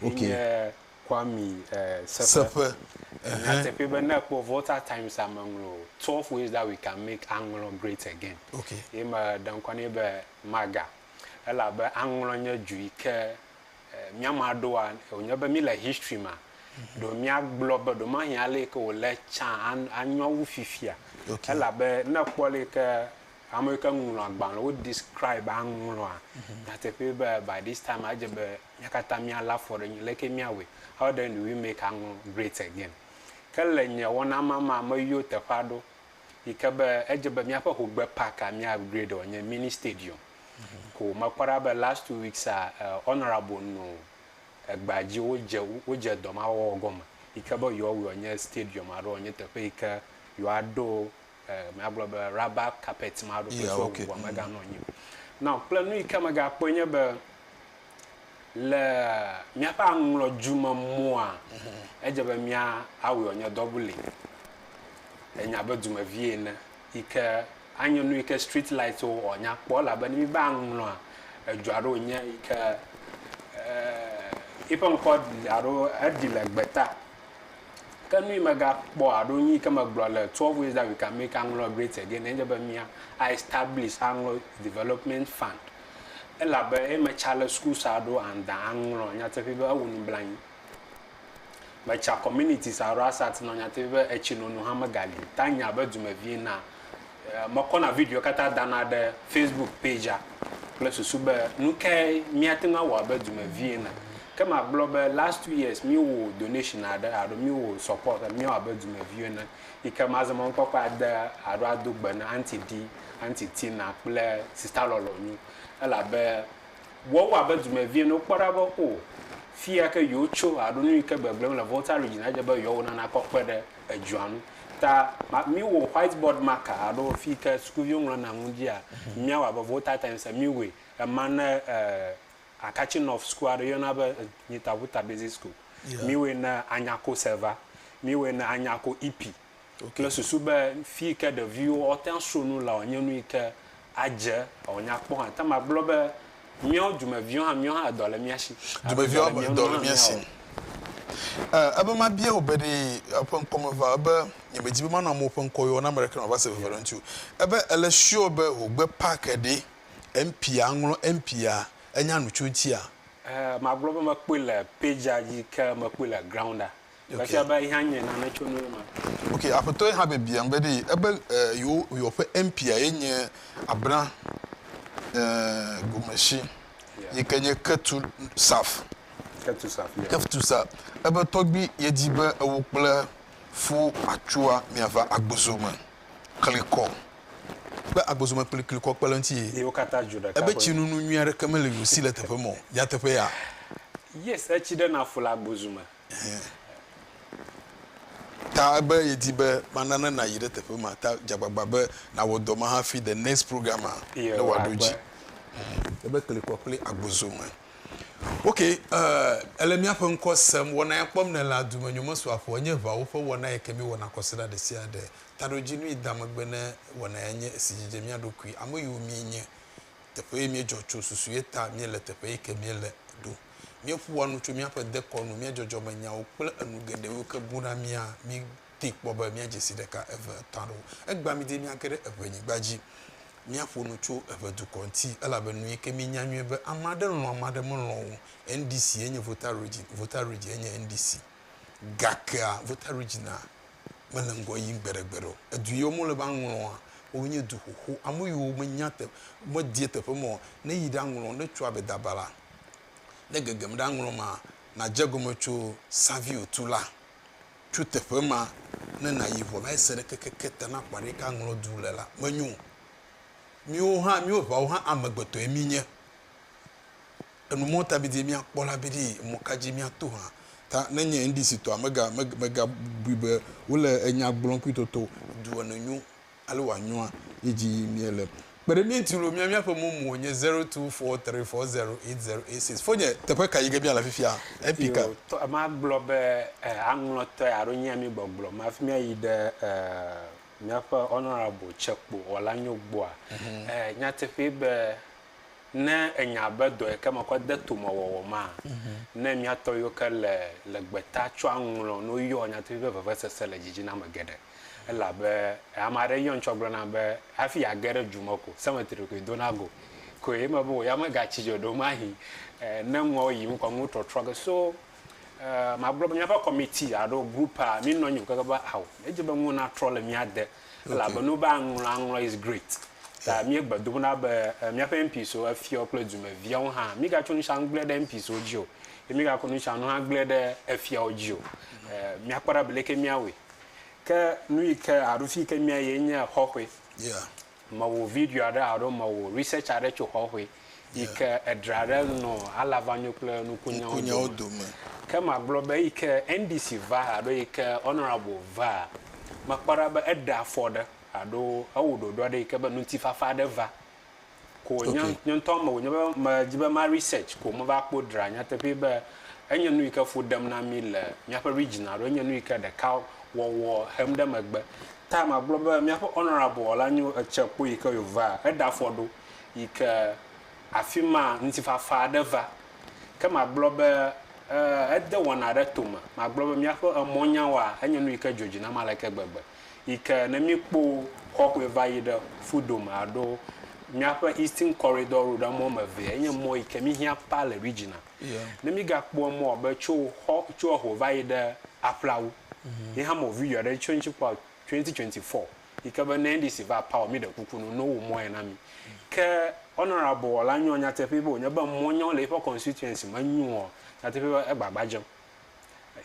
ok nye kwami eh, seƒe na teƒe be ne kpɔ volta times a me ŋlɔ 12 ways that we can make aŋlɔ great again ok ye me ɖe ŋkɔ ne be maga elabe aŋlɔ nye ju yi ke Mía mea ɖoa, wònye be míle history mea, ɖo míagblɔ be ɖomahi ale yi ke wòle tsã anyo wu fifia. Okay. Elabe ne èkpɔ ale yi ke ame yi ke ŋlɔ agbalẽ wo describe aŋlɔa, mhm. nyateƒee be by this time edze be mía katã míalé afɔ ɖe nyi le ke míawɔe. How then do we make aŋlɔ great again? Ke le nye wɔna ma mea, meyɔ teƒe aɖewo yi ke be edze be míaƒe hogbe park a mía upgrade wòanye mini stadium. ko mekpɔ ɖa be last two weeks a honourable no egbea dzi wodze wodze dɔ ma wɔwɔ gɔme yi ke be yewoa wɔe nye stadium alo wòanye teƒe yi ke yewoa ɖo e míagblɔ be rubber carpet ma ɖo kple sua bubu mega nɔ anyi o. Now kple nu yi ke mega kpɔe nye be le míaƒe aŋlɔdzu me mɔa edze be mía awɔe wòanye double enya be dumevi ene. yi ke anyo nu yi ke street light wo ɔ nya kpɔ labe ne mi va ŋlɔa edzoa ɖo nye yi ke yi ƒe ŋkɔ alo eɖi le gbeta ke nu yi mega kpɔ alo nu yi ke megblɔ le twelve ways that we can make aŋlɔ great again enye be mia a establish aŋlɔ development fund elabe eye me charles school sa ɖo and da aŋlɔ nyateƒe be ewu nublanyi Metsã communities alo Asat nɔ nyateƒe be etsinono hã megali. Tanya be dumevie na mekɔna videowo katã dana ɖe Facebook pagea kple susu be nukae míate ŋu awɔ abe dumevie na. Ke magblɔ be last two years míewɔ donation aɖe alo míewɔ support be míawɔ abe dumevio ene yi ke mazɔ mɔnukpɔkpɔ ade alo ado gbe na Aunty Dee, Aunty Tina kple Sister Lɔlɔnyo elabe Wɔ wɔ abe dumevie ene wokpɔ ɖa be o fiya ke yewo tso aɖo nu yi ke gbegblem le Volta Region adze be yewoa wona na kɔ kpe ɖe edzua nu. Ta mi wɔ white board marker aɖo fi ke sukuviwo ŋlɔ na nu dzia mia wɔ abe Volta Times mi wɔe ema ne Akatsi North sukua aɖe yɔna be Nyitaʋuta Basic School mi wɔe ne Anyako Seva mi wɔe ne Anyako Ipi. Ok le susu be fii ke ɖeviwo wo te aso nu lea nye nu yi ke adze eo nya kpɔ hã. Te ma gblɔ be miawo dumeviwo hã miawo hã edɔ le mia si. Dumeviwo hã edɔ le mia si. E, ebe ma bia wò be ɖe eƒe ŋkɔ me va ebe nye me dzi be ma nɔ amewo ƒe ŋkɔ yɔ na ame ɖeke nɔ va se veve ɖe ŋuti o. Ebe ele sure be ho gbe pack ɖe MP a ŋlɔ MP a enya nu tso ŋuti a? E, ma gblɔ be me kpɔe le page a dzi ke me kpɔe le ground a. Efia be yehã nye nane tso nuwo me. Ok, Aƒetɔe hã biabiam be ɖee ebe yewo yewo ƒe MP-a ye nye Abra eh, Gomesi Yeah. yi ke nye Ketu Saf. Ketu Saf, yeah. Ketu Saf. Ebe tɔgbi yedi be ewo kple Fo Atsua miava Agbozo me klikɔ. Be Agbozo me kpli klikɔ kpe ɖe eŋuti ye. Yewo katã dzu ɖeka Ebe ƒe. tsinunu nyui aɖeke meli yewo si le teƒe ma o. Nyateƒe ya? Yes, etsi ɖe na fu le Agbozu me. Hẽ. Ta be yedi be mana ne nayi ɖe teƒe ma ta dze agbagba be nawɔ dɔ ma hafi the next program a ne wòaɖo edzi. Ebe kli kɔ kple agbozo me. Ok, eh, ele míaƒe ŋkɔ sem. Wɔna ya kpɔm nèle adume nyomesɔaƒo enye eŋawo ƒe wɔna yi ke míewɔna kɔsiɖa ɖesiaɖe. Taɖodzinui da megbe ne wɔna ya nye esi dzidze mía ɖokui, ame yiwo míenye, teƒe yi míedzɔ tso, susu ye ta míele teƒe yi ke míele ɖo. Míeƒoa nu tso míaƒe dekɔnu, mía dzɔdzɔmenyawo, kple enu geɖewo ke buna mía. Míedee kpɔ be míadze si ɖeka, eve, etɔ̃ aɖewo. Egbea mí didi míage ɖe eŋɛnyigba dzi. Míaƒo nu tso eŋɛ dukɔ ŋuti, elabe nu yi ke míenya nyuie be ame aɖe lɔ̃ ame aɖe melɔ̃ o. NDC enye Voter Region. Voter Region enye NDC. Gakea, Voter Region a, mele ŋgɔ yim gbeɖegbeɖe o. Edu yiwo mele va ŋlɔa, wowo nye du xoxo. Ame yiwo menya teƒ, medie teƒe me o, ne yi ɖa ŋlɔ, ne tso Abedaba la, ne gegem ɖa ŋlɔ ma, nadze egɔme tso Savio tu la. Tso teƒe ma ne nayi vɔ la, ese ɖe kekeke te na ƒã ɖe yike aŋlɔ du le la, menyo o. Míwo hã, míwo ŋeawo hã amegbetɔe mí nye. Enu mɔ ta bidie míakpɔ la biɖii, emɔ ka dzi míato hã ta nenye NDC-tɔa mega, meg, megabui be wole enya gblɔm kpui toto du ene nyo alo wòanyɔa ye dzi yim míele. Kpe ɖe mía ŋuti loo, mía, míaƒe momo nye zero two four three four zero eight zero eight six. Fonye, teƒe ka yi ge míale fifia? Epi ka? Yoo, tɔ, magblɔ be, e, aŋlɔtɔe alo nyea mi gbɔgblɔ me hafi míayi ɖe, e, míaƒe Honorable Tsekpo Wɔlanyo gbɔa? E, nyateƒee be Ne ènya be dɔ yi ke mekɔ de tome wɔwɔ maa, ne mía tɔ yiwo ke le le gbeta tsɔa ŋlɔ no yɔa nyateƒe ƒe vevesese le dzidzina eme geɖe. Elabe ame aɖe yɔm tsɔ gblɔna be hafi yeage ɖe du me ko, cemetery koe dona go koe. Eme be wò ya megatsi dzi o. Ɖewomahi ne nuawo yim kɔ nuwo trɔtrɔ ge. So magblɔ be míaƒe kɔmiti alo group a, mí nɔ anyi o keke be ao, míedi be nuwo natrɔ le mía de. Elabe nu be aŋlɔ aŋlɔ is great. Ta míegbe dom ɖa be eh, míaƒe MPs wo, efiawo kple dumeviawo hã, mígatso nusiawo ŋu gblẽ ɖe MPs wo dzi o, ye mígakɔ nusiawo ŋu hã gblẽ ɖe efiawo dzi o. Eh, míakpɔ ɖa be leke míawɔe. Ke nu yi ke alo fi yi ke míayi ye nye xɔxɔe. Yeah. Mewɔ video aɖe alo mewɔ research aɖe tso xɔxɔe. yi ke edra ɖe nɔ alavanyo kple nukunyawo dome. dome. Ke magblɔ be eyi ke NDC va alo yi ke Honourable va, mekpɔ ɖa be eɖe afɔ ɖe alo ewɔ ɖoɖo aɖe yi ke be ŋutifafa aɖe va. Ko nye okay. nye ŋutɔ me wònye be medzi be ma research ko meva kpɔ dra nyateƒee be enye nu yi ke fu ɖem na mí le míaƒe region alo enye nu yi ke ɖeka wɔwɔ hem ɖe megbe. Ta magblɔ be míaƒe Honourable la nyo etse kpo yi ke yòva, eɖe afɔ ɖo yi ke afi ma ŋutifafa aɖe va. Ke magblɔ be, Ee, ede wɔna aɖe to me. Magblɔ be, Míaƒe emɔ̃nyawoa, enye nu yi ke dzɔ dzi nam aleke gbegbe yi ke ne míekpɔ xɔxɔe va yi ɖe ƒu dome alo míaƒe Eastern Corridor Road, emɔ̃ wɔme evea, enye mɔ̃ yi ke míhiã paa le Regina. Ne mígakpɔ emɔ̃ abe tso xɔ, tso eho va yi ɖe aƒlawu, míeha mɔ̃ video aɖe tso eŋuti kpɔa, twenty twenty four. yi ke be ne NDC va power mi ɖe kuku no no wo mɔe na mi. Ke honorable Wɔla nyo nyateƒee be wonye be mɔ nyo le yiƒe constituency me nyoa nyateƒee be egba gba dzem.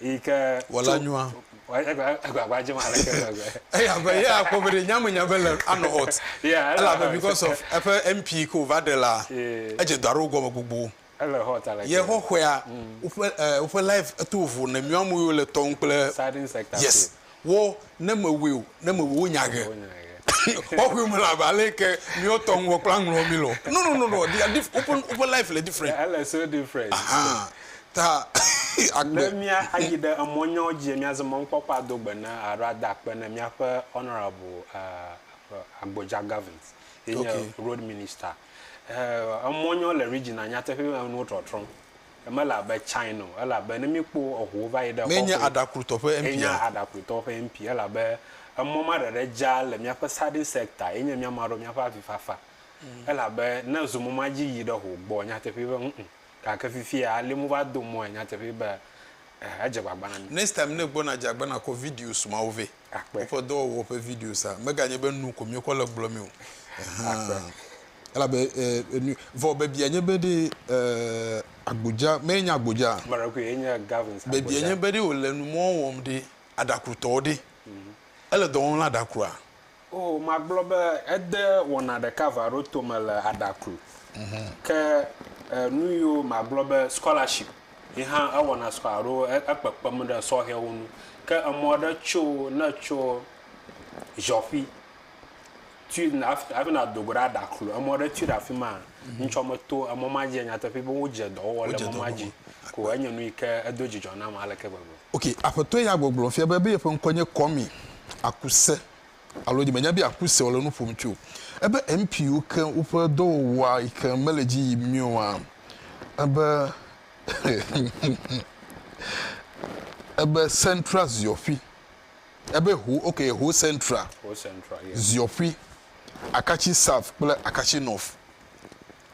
Yi ke Wɔla nyoa? Egba egba gba dzem ale ke gbegbe. Eya be ye akpɔ be ɖe nyame nya be le anɔ hot. Yeah, ela hot. Elabe because of eƒe MP yi ke wova ɖe la edze dɔ aɖewo gɔme gbogbo. Yexɔxɔea woƒe woƒe live eto vovo ne mìɔ amewo le tɔm kple yes wɔ ne mewɔe o ne mewɔe wo nya ge xɔxɔe me la ba le ke mìɔ tɔ ŋgɔ kpla ŋlɔ mi lɔ no no no no dia dif woƒe woƒe live le different ele so different aha ta agbe ne mìa ayi ɖe emɔ nyawo dzi mìa ze mɔ ŋkpɔkpɔ ado gbe na alo ada akpe ne mìaƒe honorable uh, Agboja Gavins ye nye okay. road minister Eh, emɔ nyɔ le Regina nyateƒe me nuwo trɔtrɔm. Emele abe China o, ele abe ne míkpɔ eŋuwo va yi ɖe Mee nye xɔxoe. aɖakrutɔ ƒe MP Enye a? aɖakrutɔ ƒe MP, ele abe emɔ ma ɖeɖe dza le míaƒe sardine sector ye nye míama ɖo míaƒe avifafa. Ele abe ne zu mɔ ma dzi yi ɖe ho gbɔ nyateƒe be ŋ-ŋ. Gake fifia ale mu va do mɔe nyateƒe be eh, edze gbagba na mí. Next time ne egbɔna dze agbena kɔ videos mawo vɛ. Akpe. Woƒe dɔwɔwɔ ƒe video sa meganye be nu ko míekɔ le gblɔ mi o. Akpe. Elabe enu vɔ bebia nye be ɖe agbodza mee nye agbodza. Maɖekui ye nye Gavin agbodza. Bebia nye be ɖe wòle nu mɔ wɔm ɖe aɖakrutɔwo ɖe ele dɔ wɔm le aɖakrua. Oo, magblɔ be ede wɔna ɖeka va ɖo tome le aɖakru. Ke nu yiwo magblɔ be scholarship. Ye hã ewɔna sɔ alo ekpekpem ɖe sɔhɛwo nu. Ke emɔ aɖe tso ne ètso Ʒɔƒi tui yina hafi nàdo go ɖe Aɖaklo, emɔ aɖe tui ɖe afi maa, ŋutsua meto emɔ ma dzia? Nyateƒee be wodze dɔ wɔwɔ le emɔ ma dzi ko. Enye nu yi ke edo dzidzɔ nam aleke gbegbe. Ok, Aƒetɔ ya gbɔgblɔ fia be, be yeƒe ŋkɔe nye Kwame Akuse. alo nye menya be aku se wole nu ƒom tso ebe MPwo ke woƒe dɔwɔwɔa yi ke mele dzi yim nyuie oa? Ebe ebe central ziɔƒi ebe ho ok ho central Ho central yes. ziɔƒi akatsi south kple akatsi north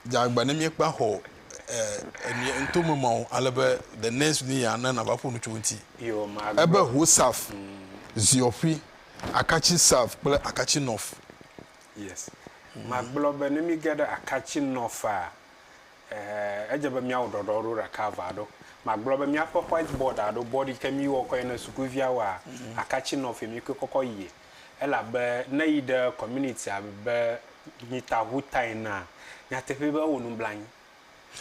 dze agba ne míekpa xɔ enie ŋto me ma o ale be the next ni ya na nava ƒo nu tso ŋti Yo magblɔ. ebe ho south ziɔƒi. Akatsi Sav kple Akatsi Nɔf. Yes. Magblɔ be ne mige ɖe Akatsi Nɔf'a, edze be míawɔ ɖɔɖɔ ɖo ɖeka ava ɖo. Magblɔ be míaƒe white board alo board yi ke míwɔ kɔe ne sukuviawoa, Akatsi Nɔf ye míkoe kɔkɔ yie. Elabe ne eyi ɖe communitya be nyita ŋuta enea, nyateƒee be ewɔ nublanui.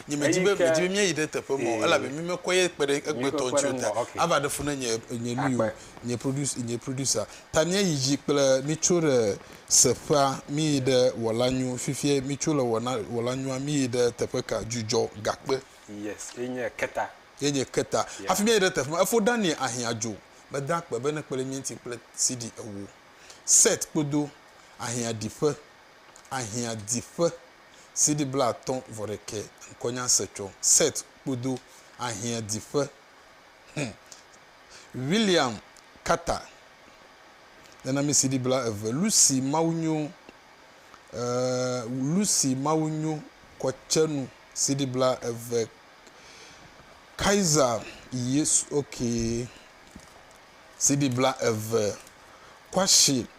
Nye medi be medi be míayi ɖe teƒe ma o elabe mi mekpɔe ye kpe ɖe egbetɔ ŋuti o ta ava ɖe fu ne nye nye nu yi o nye producer nye producer ta míayi dzi kple mi tso ɖe seƒea mi yi ɖe wɔla nyu fifie mi tso le wɔna wɔla nyua mi yi ɖe teƒe ka dzudzɔ gakpe yes ye nye keta ye nye keta hafi míayi ɖe teƒe ma efo Daniel ahiã dzo meda akpe be ne kpe ɖe mía ŋuti kple CD ewo set kpodo ahiã ɖiƒe. ahiã di ƒe CD blaatɔ̃ vɔ ɖekɛ ŋkɔnya se tsɔ Set kpodo ahiã di ƒe Hm William Carter nana mi CD bla eve Lucy Mawu nyo eh Lucy Mawu nyo kɔ tse nu CD bla eve Kaiser Yesu ok CD bla eve Kwashe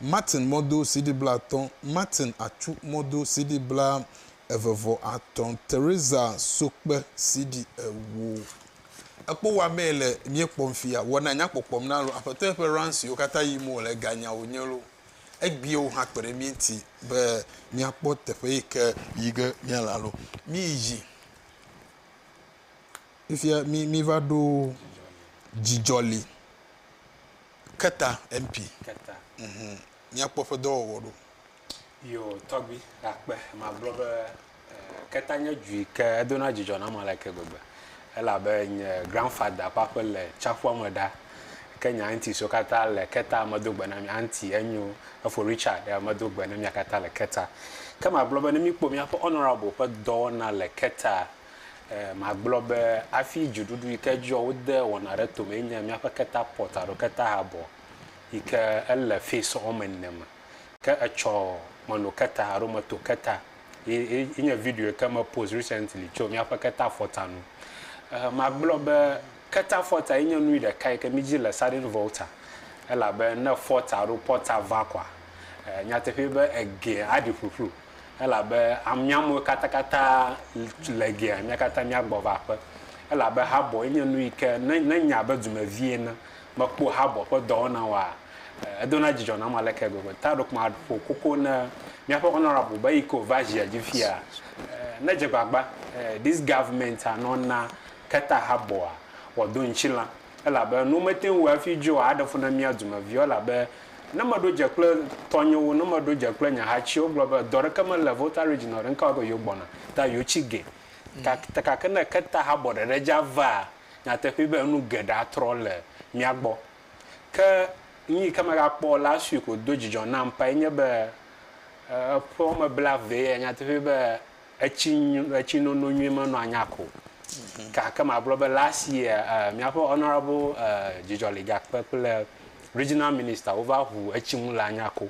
Martin mɔdo CD blaatɔ̃ Martin Atsu mɔdo CD bla eve vɔ atɔ̃ Teresa Sokpe CD ewo Ekpo wa mee le mie kpɔm fia wɔ na nya kpɔkpɔm na lo Aƒetɔ ye ƒe run siwo kata yim wo le ga nya wo nye lo Egbie wo hã kpe ɖe mie ŋti be mia kpɔ teƒe yi ke yi ge mia le alo mi yi dzi Fifia mi mi va ɖo dzidzɔ li. Keta MP, Keta. Mhum, míakpɔ eƒe dɔwɔwɔ ɖo. Yo, tɔgbi, akpe, magblɔ be, eh, Keta nye du yi ke edona dzidzɔ nam aleke gbegbe. Elabe nye grandfather ƒe aƒe le tsiaƒua me ɖa. Ke nye aunties wo katã le Keta, medo gbe na mi. Auntie, enyo, efo Richard, eh, medo gbe ne mia katã le Keta. Ke magblɔ be ne míkpɔ míaƒe Honourable ƒe dɔwɔna le Keta, Magblɔ be hafi dziɖuɖu yi ke dzɔ wode wɔna ɖe to me ye nye míaƒe keta pɔt alo keta habɔ yi ke ele fez wɔme ene me. Ke etsɔ meno keta alo meto keta ye nye video yi ke me post recently tso míaƒe keta fɔta ŋu. Magblɔ be keta fɔta ye nye nu ɖeka yi ke mí dzi le sudden volta elabe ne fɔta alo pɔta va koa, nyateƒee be egeɛ aɖi ƒuƒlu. Elabe mía amewo katakata le gea, mía katã míagbɔ va aƒe. Elabe habɔe nye nu yi ke, ne, ne nye abe dumevi ene, mekpɔ habɔ ƒe dɔwɔna wɔa, edona dzidzɔ nam aleke gbegbe. Ta ɖeko maƒo koko na míaƒe Honourable be yi ke wòva zia dzi fia, nedze gbagba, this government, nɔ na keta habɔa, wòado ŋutilã. Elabe nu mete ŋu wɔ hafi dzɔa, aɖe fu na mía dumeviwo, elabe ne meɖo dze kple tɔnyewo, ne meɖo dze kple nye hatsiwo gblɔ be, dɔ ɖeke mele Volta Region o, ɖe ŋkawɔ be yewo gbɔna, ta yewo tsi ge. Ta, ta gake ne keta habɔ ɖeɖe dza vaa, nyateƒee be enu geɖe atrɔ le mía gbɔ. Ke nu yi ke megakpɔ last week wòdo dzidzɔ nam ŋutɔ enye be, e, eƒewo me bla vee, nyateƒee be Etsi etsinono nyui menɔ anya ko gake magblɔ be last year eh, míaƒe honourable eh, Dzidzɔliga kpe kple regional minister wova ʋu etsi ŋu le anya ko.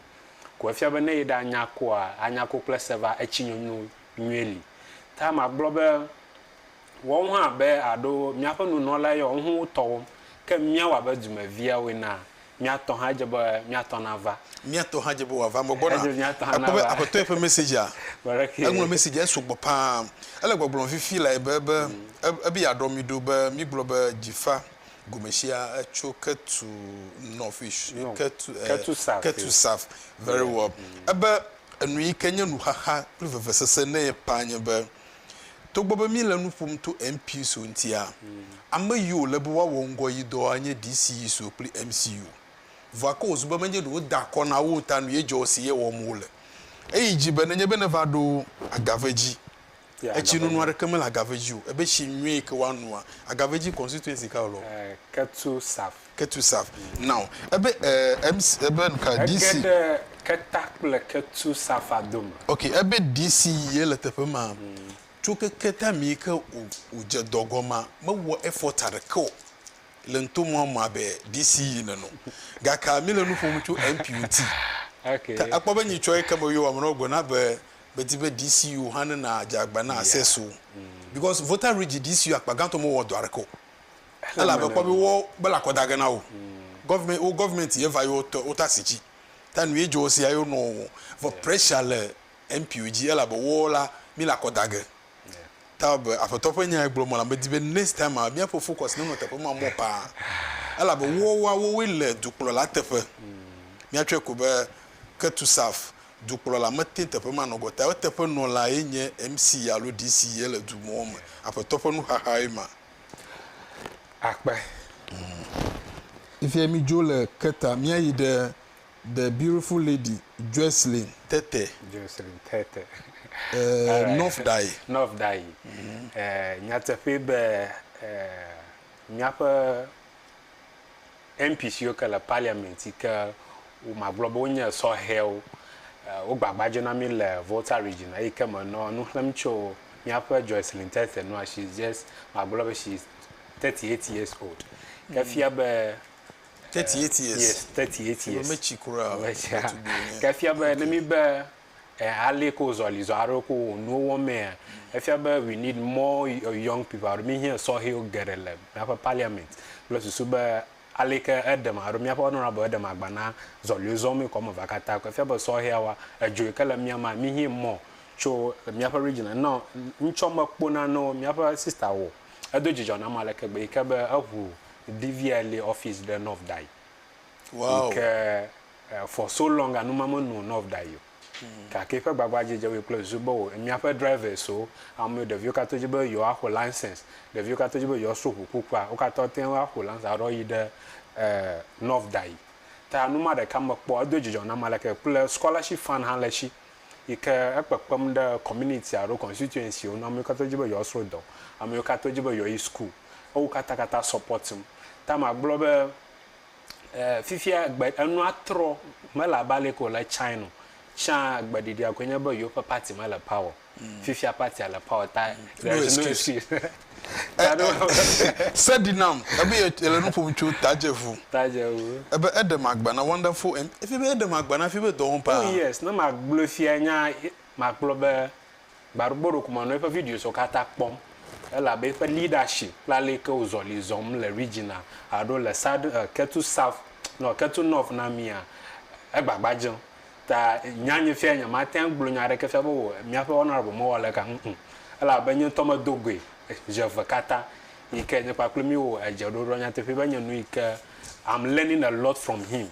Ko efia be ne yi ɖe anya koa, anya ko kple seva etsi nyonyo nyuie li. Ta magblɔ be Wɔm hã abe aɖo míaƒe nunɔla yɔ ŋu wu tɔwo, ke míawɔ abe dumeviawo enea, mía tɔ hã dze be mía tɔ nava. Mía tɔ hã dze be wòava eme gbɔna. Edze mía tɔ hã nava. Èkpɔ be Aƒetɔ yɛ ƒe mesedzea, eŋlɔ mesedzea, esu gbɔ ƒãa. Ele gbɔgblɔm fifi lae be, be, ebe yeaɖɔ mí ɖo be mígblɔ be Djifa gome sia tso Ketu North Ketu, Ketu South. Very well. Ebe enu yi ke nye nuxaxa kple vevesese na ye ƒãa nye be Togbɔ be míle nu ƒom to MPISO ŋutia, ame yi wòle be woawɔ ŋgɔ yi dɔa nye DCISO kple MCU. Vɔa ke wòzu be menye ɖe woda akɔ na wo o ta nue dzɔ esi ye wɔm wole. Eyi dzi be, Nenye be nèva ɖo agave dzi, etsinunu aɖeke mele agave dzi o, ebe tsi nyuie yi ke woanoa agave dzi constituency kae wòle o? Ketsu Saf. Ketusav. Now. Ebe, eh, MC, ebe nuka? DC. Ege ɖe Keta kple Ketusafa dome. Ok, ebe DC ye le teƒe ma. Tso ke Keta mii ke o, o dze dɔ gɔma, me wɔ effort aɖeke o le ŋto mɔa me abe DC yi nene o. Gaka mi le nu ƒom tso MP ŋti. Ok. Ke akpɔ be nyi tsɔe ke me yo ame ɖewo gbe na be, be di be DC yo hã ne na dze agba na access o. Because Volta Ridge DC yo akpa gãtɔ me wɔ dɔ aɖeke o. Ela be kpɔ be wo gbela kɔ dage na wo. Government wo government ye va yo tɔ wo ta si ci. Ta nu ye jo wo sia yo nɔ wo. Vɔ pressure le MP wo ji ela be wo la mi la kɔ dage. Ta wo be aƒetɔ ƒe nya ye gblɔ mɔ la me di be next time a mia ƒe focus ne nɔ teƒe ma mɔ paa. Ela be wo wa wo we le dukplɔ la teƒe. Mia tsɔe ko be ke tu saf dukplɔ la me te teƒe ma nɔgɔ ta yo teƒe nɔ la ye nye MC alo DC ye le du mɔ me aƒetɔ ƒe nu xaxa ye ma. akpe. Ifie mi dzo le keta mia yi ɖe the beautiful lady Jocelyn Tete. Jocelyn Tete. Eh, North Dai. North Dai. Eh, nyateƒe be eh, miaƒe MP siwo ke le parliament yi ke wo magblɔ be wonye sɔhɛwo wo gbagba dzena mi le Volta region eyi ke me nɔ nu xlem tso miaƒe Joycelyn Tethe nua she is just magblɔ be she is 38 years old ke fia be 38 years yes 38 years metsi kura metsi ke fia be ne mi be Eali ko zɔli zɔ aɖewo ko wò nuwo wɔm mea, efia be we need more young people alo míhiã sɔhɛwo geɖe le míaƒe parliament kple susu be aleke eɖem alo míaƒe honourable eɖem agba na zɔliwo zɔm ekɔ me va katã ko. Efia be sɔhɛawoa, edzo yi ke le mía mea, míhiɛ mɔ tso míaƒe region a. Nɔ ŋtsɔ mekpo nanewo míaƒe sister wɔ o. Edo dzidzɔ nam aleke gbe yi ke be eŋu DVLA office ɖe North Dayi yi ke Eh, for so long anu ma me nu nɔv da yio. Gake eƒe gbagba dzi dze woe kple viso be wo, emiaƒe drivers wo, ameo ɖevio katã dzi be yio axo license, ɖevio katã dzi be yio so ʋu kukua, wo katã wote ŋu axo license aɖɔ yi ɖe eh, nɔv da yi. Ta anu ma ɖeka me kpɔ edo dzidzɔ nam aleke kple scholarship fund hã le shi yi ke ekpekpem ɖe community alo constituency wo nu, ameo katã dzi be yio sro dɔ, ameo katã dzi be yio yi school, ewo katã katã support ŋ. Ta magblɔ be eh, fifia gbe enua trɔ mele abe ale ko le tsãe no. Tsã gbeɖiɖia koe nye be yewoƒe party mele power. Mm. Fifia party le power ta. No excuse. Se di nam ebe yele nu ƒom tso tadzevu. Tadzevu. Ebe eɖe magba na wonderful and efi be eɖe magba na fi be dɔ wɔm paa. Oh yes, ne magblɔ fia nya makplɔ be Gbaɖugbɔ ɖokuimanɔ eƒe videoswo katã kpɔm elabe eƒe leadership kple aleke wozɔ li zɔm le regiona alo le sad eh, ketu south nɔ ketu north na mia egbagba dzem ta nya nye fia nye mate ŋu agblɔ nya aɖeke fia be wò miaƒe honorable mewɔ aleka ŋu o elabe nye ŋutɔ medo goe zi eve katã yike nye kpakple mi wɔ edze ɖoɖoa nyateƒee be nye nu yike I'm learning a lot from him.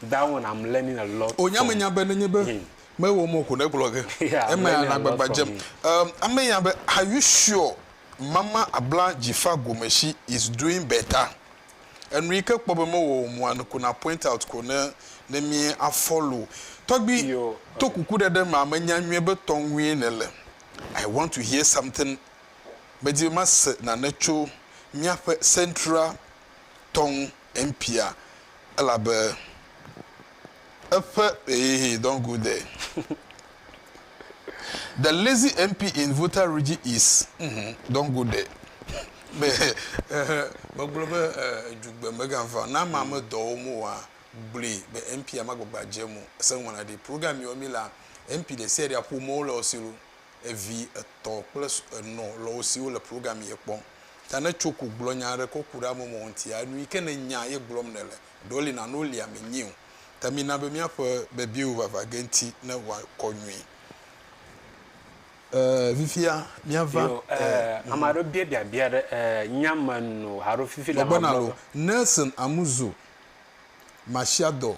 Down, I'm learning a lot from. Wònya menya be nenye be him. Mewɔ mɔ ko ne gblɔ ge. Yeah, I'm Emea learning le a lot agbagba from dzem. him. Um, ame ya be, Are you sure Mama abla dzifa gome she is doing better? Enu yi ke kpɔ be mewɔ o mua, ko na point out ko ne ne mi a follow. Tɔgbi, Yo, to okay. kuku ɖe ɖe mea, menya nyuie be tɔ ŋue nèle. I want to hear something. Medi be mase nane tso míaƒe Central tɔ ŋu mpia elabe eƒe hehehe don't go there the lazy MP in Volta Regi is uhmm don't go there me ehe megblɔ be edzugbe mega va na ma me dɔwo mo wa gblui be MP a ma gbagba dze mo ese ŋu ma na ɖi program yɔ mi la MP ɖe sia ɖe aƒo mɔwo le ɔsilo. evi etɔ kple enɔ lɔwo siwo le programme ye kpɔm ta ne tso ko gblɔ nya aɖe kɔ kuɖe ame mɔ ŋti ya nui ke ne nya ye gblɔm ne le ɖewo li nane wo lia me nyio ta mi na be mia ƒe bebiewo vava ge ŋti ne wa kɔ nyui e fifia mia va yo e ame aɖewo bia bia bia ɖe e nya me no haro fifi le ma gblɔ be. Nɔgbenalo, Nelson Amuzo, Masiadɔ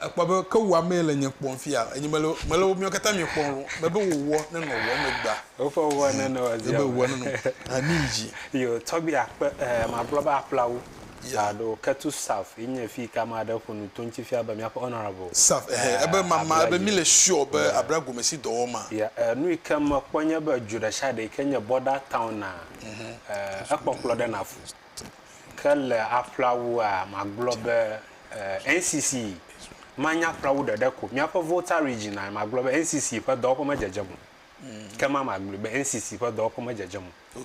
Ekpɔ be, ke wò amee le nye kpɔm fia, enye mele, mele wò miɔ katã miɔ kpɔm lo, mebe wò wɔ ne nɔ wɔ megbea. Woƒe wɔ ne nɔ wɔ zia. Mebe wɔ ne nɔ, ha mi yi dzi. Yo, tɔgbi akpe, eh, ma gblɔ be aƒlawu. Yeah. Alo ketu saf yi nye fi ka ma ɖe ƒo nu to ŋuti fia be miaƒe honorable. Saf, eh, eh, ebe ma, ma, ebe mi le sure be abla gome si dɔ wɔ ma. Yeah, eh, nu yi ke me kpɔ nye be dzu ɖe sia ɖe yi ke nye border town na, eh, ekpɔkplɔ ɖe na fu. Ke le aƒlawua, magblɔ be NCC manye aƒlawu ɖeɖe ko. Míaƒe Volta Region a, magblɔ be NCC ƒe dɔwɔƒe medzedzem o. Ke ma magblɔe be NCC ƒe dɔwɔƒe medzedzem o.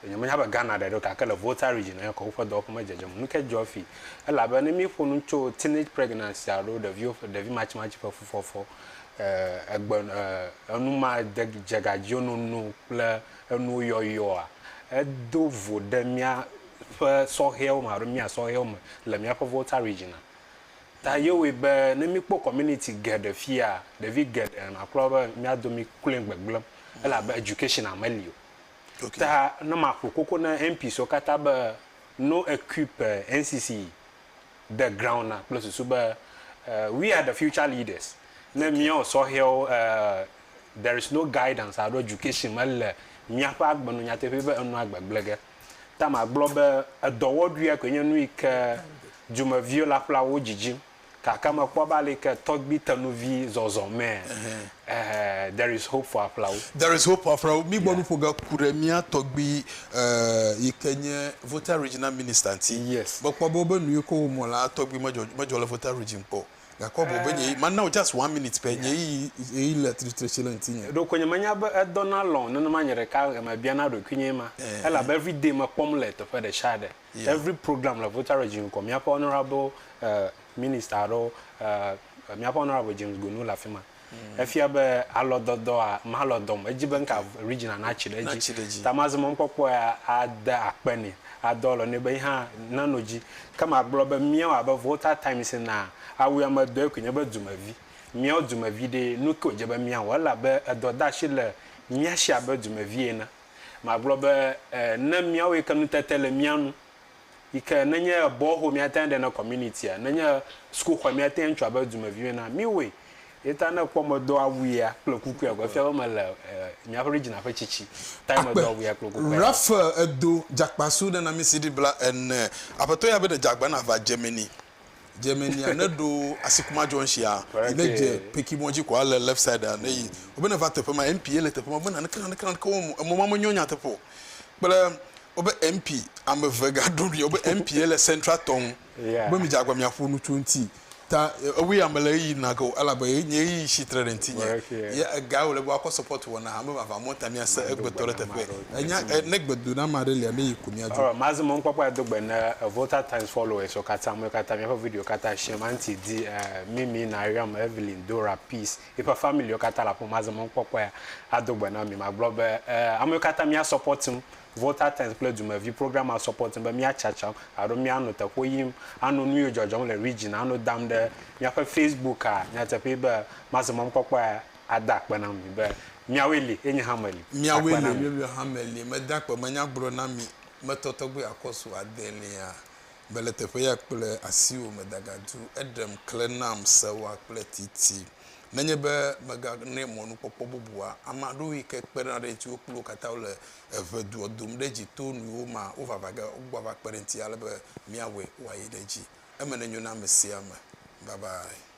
Nyemenya be Ghana ɖeɖe o gake le Volta Region a, woƒe dɔwɔƒe medzedzem o. Nu kae dzɔ fi? Elabe ne míeƒo nu tso teenage pregnancy alo ɖeviwo ƒe, ɖevi matsimatsi ƒe fufɔfɔ, egbe, enumadzegadziwo nono kple. Enuyɔyɔa, Edo vo ɖe míaƒe sɔhɛwo me alo mía sɔhɛwo me le míaƒe Volta Region a. Ta ye wɔe be ne míkpɔ community geɖe fiya, ɖevi geɖe nɔ akpɔ be mía domi kloe gbegblẽ elabe education a meli o. Ta ne maƒo koko na MPs wo katã be no equip NCC the ground na kple susu be we are the future leaders ne miawo sɔhɛwo there is no guidance alo education mele miaƒe agbe nu nyateƒe be enua gbegble ge ta magblɔ be edɔwɔɖuia koe nye nu yi ke dumeviwo le aƒlawo dzidzim kaka mekpɔ be aleke tɔgbi tenuvi zɔzɔ mɛ Eh, there is hope for Aflawo. There is hope for Aflawo. Mi gbɔ nu ƒo ge ku ɖe mía tɔgbi eh, yi ke nye Volta Regional Minister ŋuti. Yes. Me kpɔ be wobe nu yi ke wo mɔ la tɔgbi me dzɔ me dzɔ le Volta Region kpɔ. Gakɔ bɔ be nye eh. ma now just one minute pe nye yi yi le tritre si le ŋuti nye. Ɖo ko nye me nya be edɔ na lɔn nenema nye ɖeka me bia na ɖoki nye ma. Eh. Ela be every day me kpɔm le teƒe ɖe sha ɖe. Every program le Volta Region kɔ, míaƒe honorable minister aɖewo, míaƒe honorable James Gonu le afi ma. Efia be alɔdɔdɔa malɔ dɔm. Edzi be ŋka regiona natsi ɖe edzi. Ta mazi mɔnukpɔkpɔ ya ade akpe nɛ, adɔ alɔ nɛ be yihã nano dzi. Ke magblɔ be míawo abe Volta Times ene a, awu ame dɔe koe nye be dumevi. Míawo dumevi ɖee, nuke wòdze be míawɔ? Ele abe edɔdeashi le mía shi abe dumevi ene. Magblɔ be, Ẽ, ne míawoe ke nutete le mía nu, yi ke nenye bɔho míate ŋu aɖe na kɔminitia, nenye sukuxɔe míate ŋu atsɔ abe dumevi me na, míwoe. Ye ta ne èkpɔ medo awu ya kple kuku ya ko, efia be mele míaƒe Regina ƒe tsitsi tae medo awu ya kple kukua ya. Raphael, Èdo dzakpasu nenamisi ɖi bla ene. Aƒetɔ ya be ɖe dze agba nava Germany. dze me nia ne ɖo asikuma jɔ nsia yi ne dze peki mɔ dzi ko ale left side a ne yi o be ne va teƒe ma mp le teƒe ma be naneke naneke naneke wo mo emɔ ma me nyɔ nya teƒe o kple o be mp ame ve ga ɖo mi o be mp le central tɔn be mi dze agba mi aƒo nu tso ŋti ta ewe ya me le yi na ke o elabe ye nye yi shi tre ɖe ŋti nye ye ega o le be wa kɔ support wɔna ame vava mɔ ta mi ase egbetɔ le teƒe Enya eh, ne gbedoɖama aɖe lia, ne yi ko míadzo. Alright, mazi mɔnukpɔkpɔ ado gbe ne Volta Times followers wo katã, ame katã míaƒe video katã shame, Aunty Di, eh, Mimi, Nariam, Evelyn, Dora, Peace, yiƒe family wo katã le aƒeme, mazi mɔnukpɔkpɔe ado gbe na mi, magblɔ be eh, ame katã mía support ŋ, Volta Times kple Dumevi program ma support ŋ be mía tsatsam alo mía nɔ teƒewo yim, ano nu yiwo dzɔdzɔm le region, ano dam ɖe míaƒe Facebook a, nyateƒee be mazi mɔnukpɔkpɔe Ada akpe na mi be. Miawoe li, eye nye hã meli. Miawoe li, eye nye hã meli. Meda akpe, menye agblɔ na mi. Metɔ tɔgbe akɔsu adelia. Mele teƒeya kple asiwò me dagadu. Eɖem, klẽ nam, sewa kple titi. Nenye be meganɛ mɔnukpɔkpɔ bubua, ame aɖewoe yi ke kpena ɖe eŋuti, wo kple wo katã wole eve doa dom ɖe edzi to nuyiwo ma wovava ge wogbɔ ava kpe ɖe eŋuti ale be míawɔe wòayi ɖe edzi. Eme nenyo na ame sia ame. Bye bye.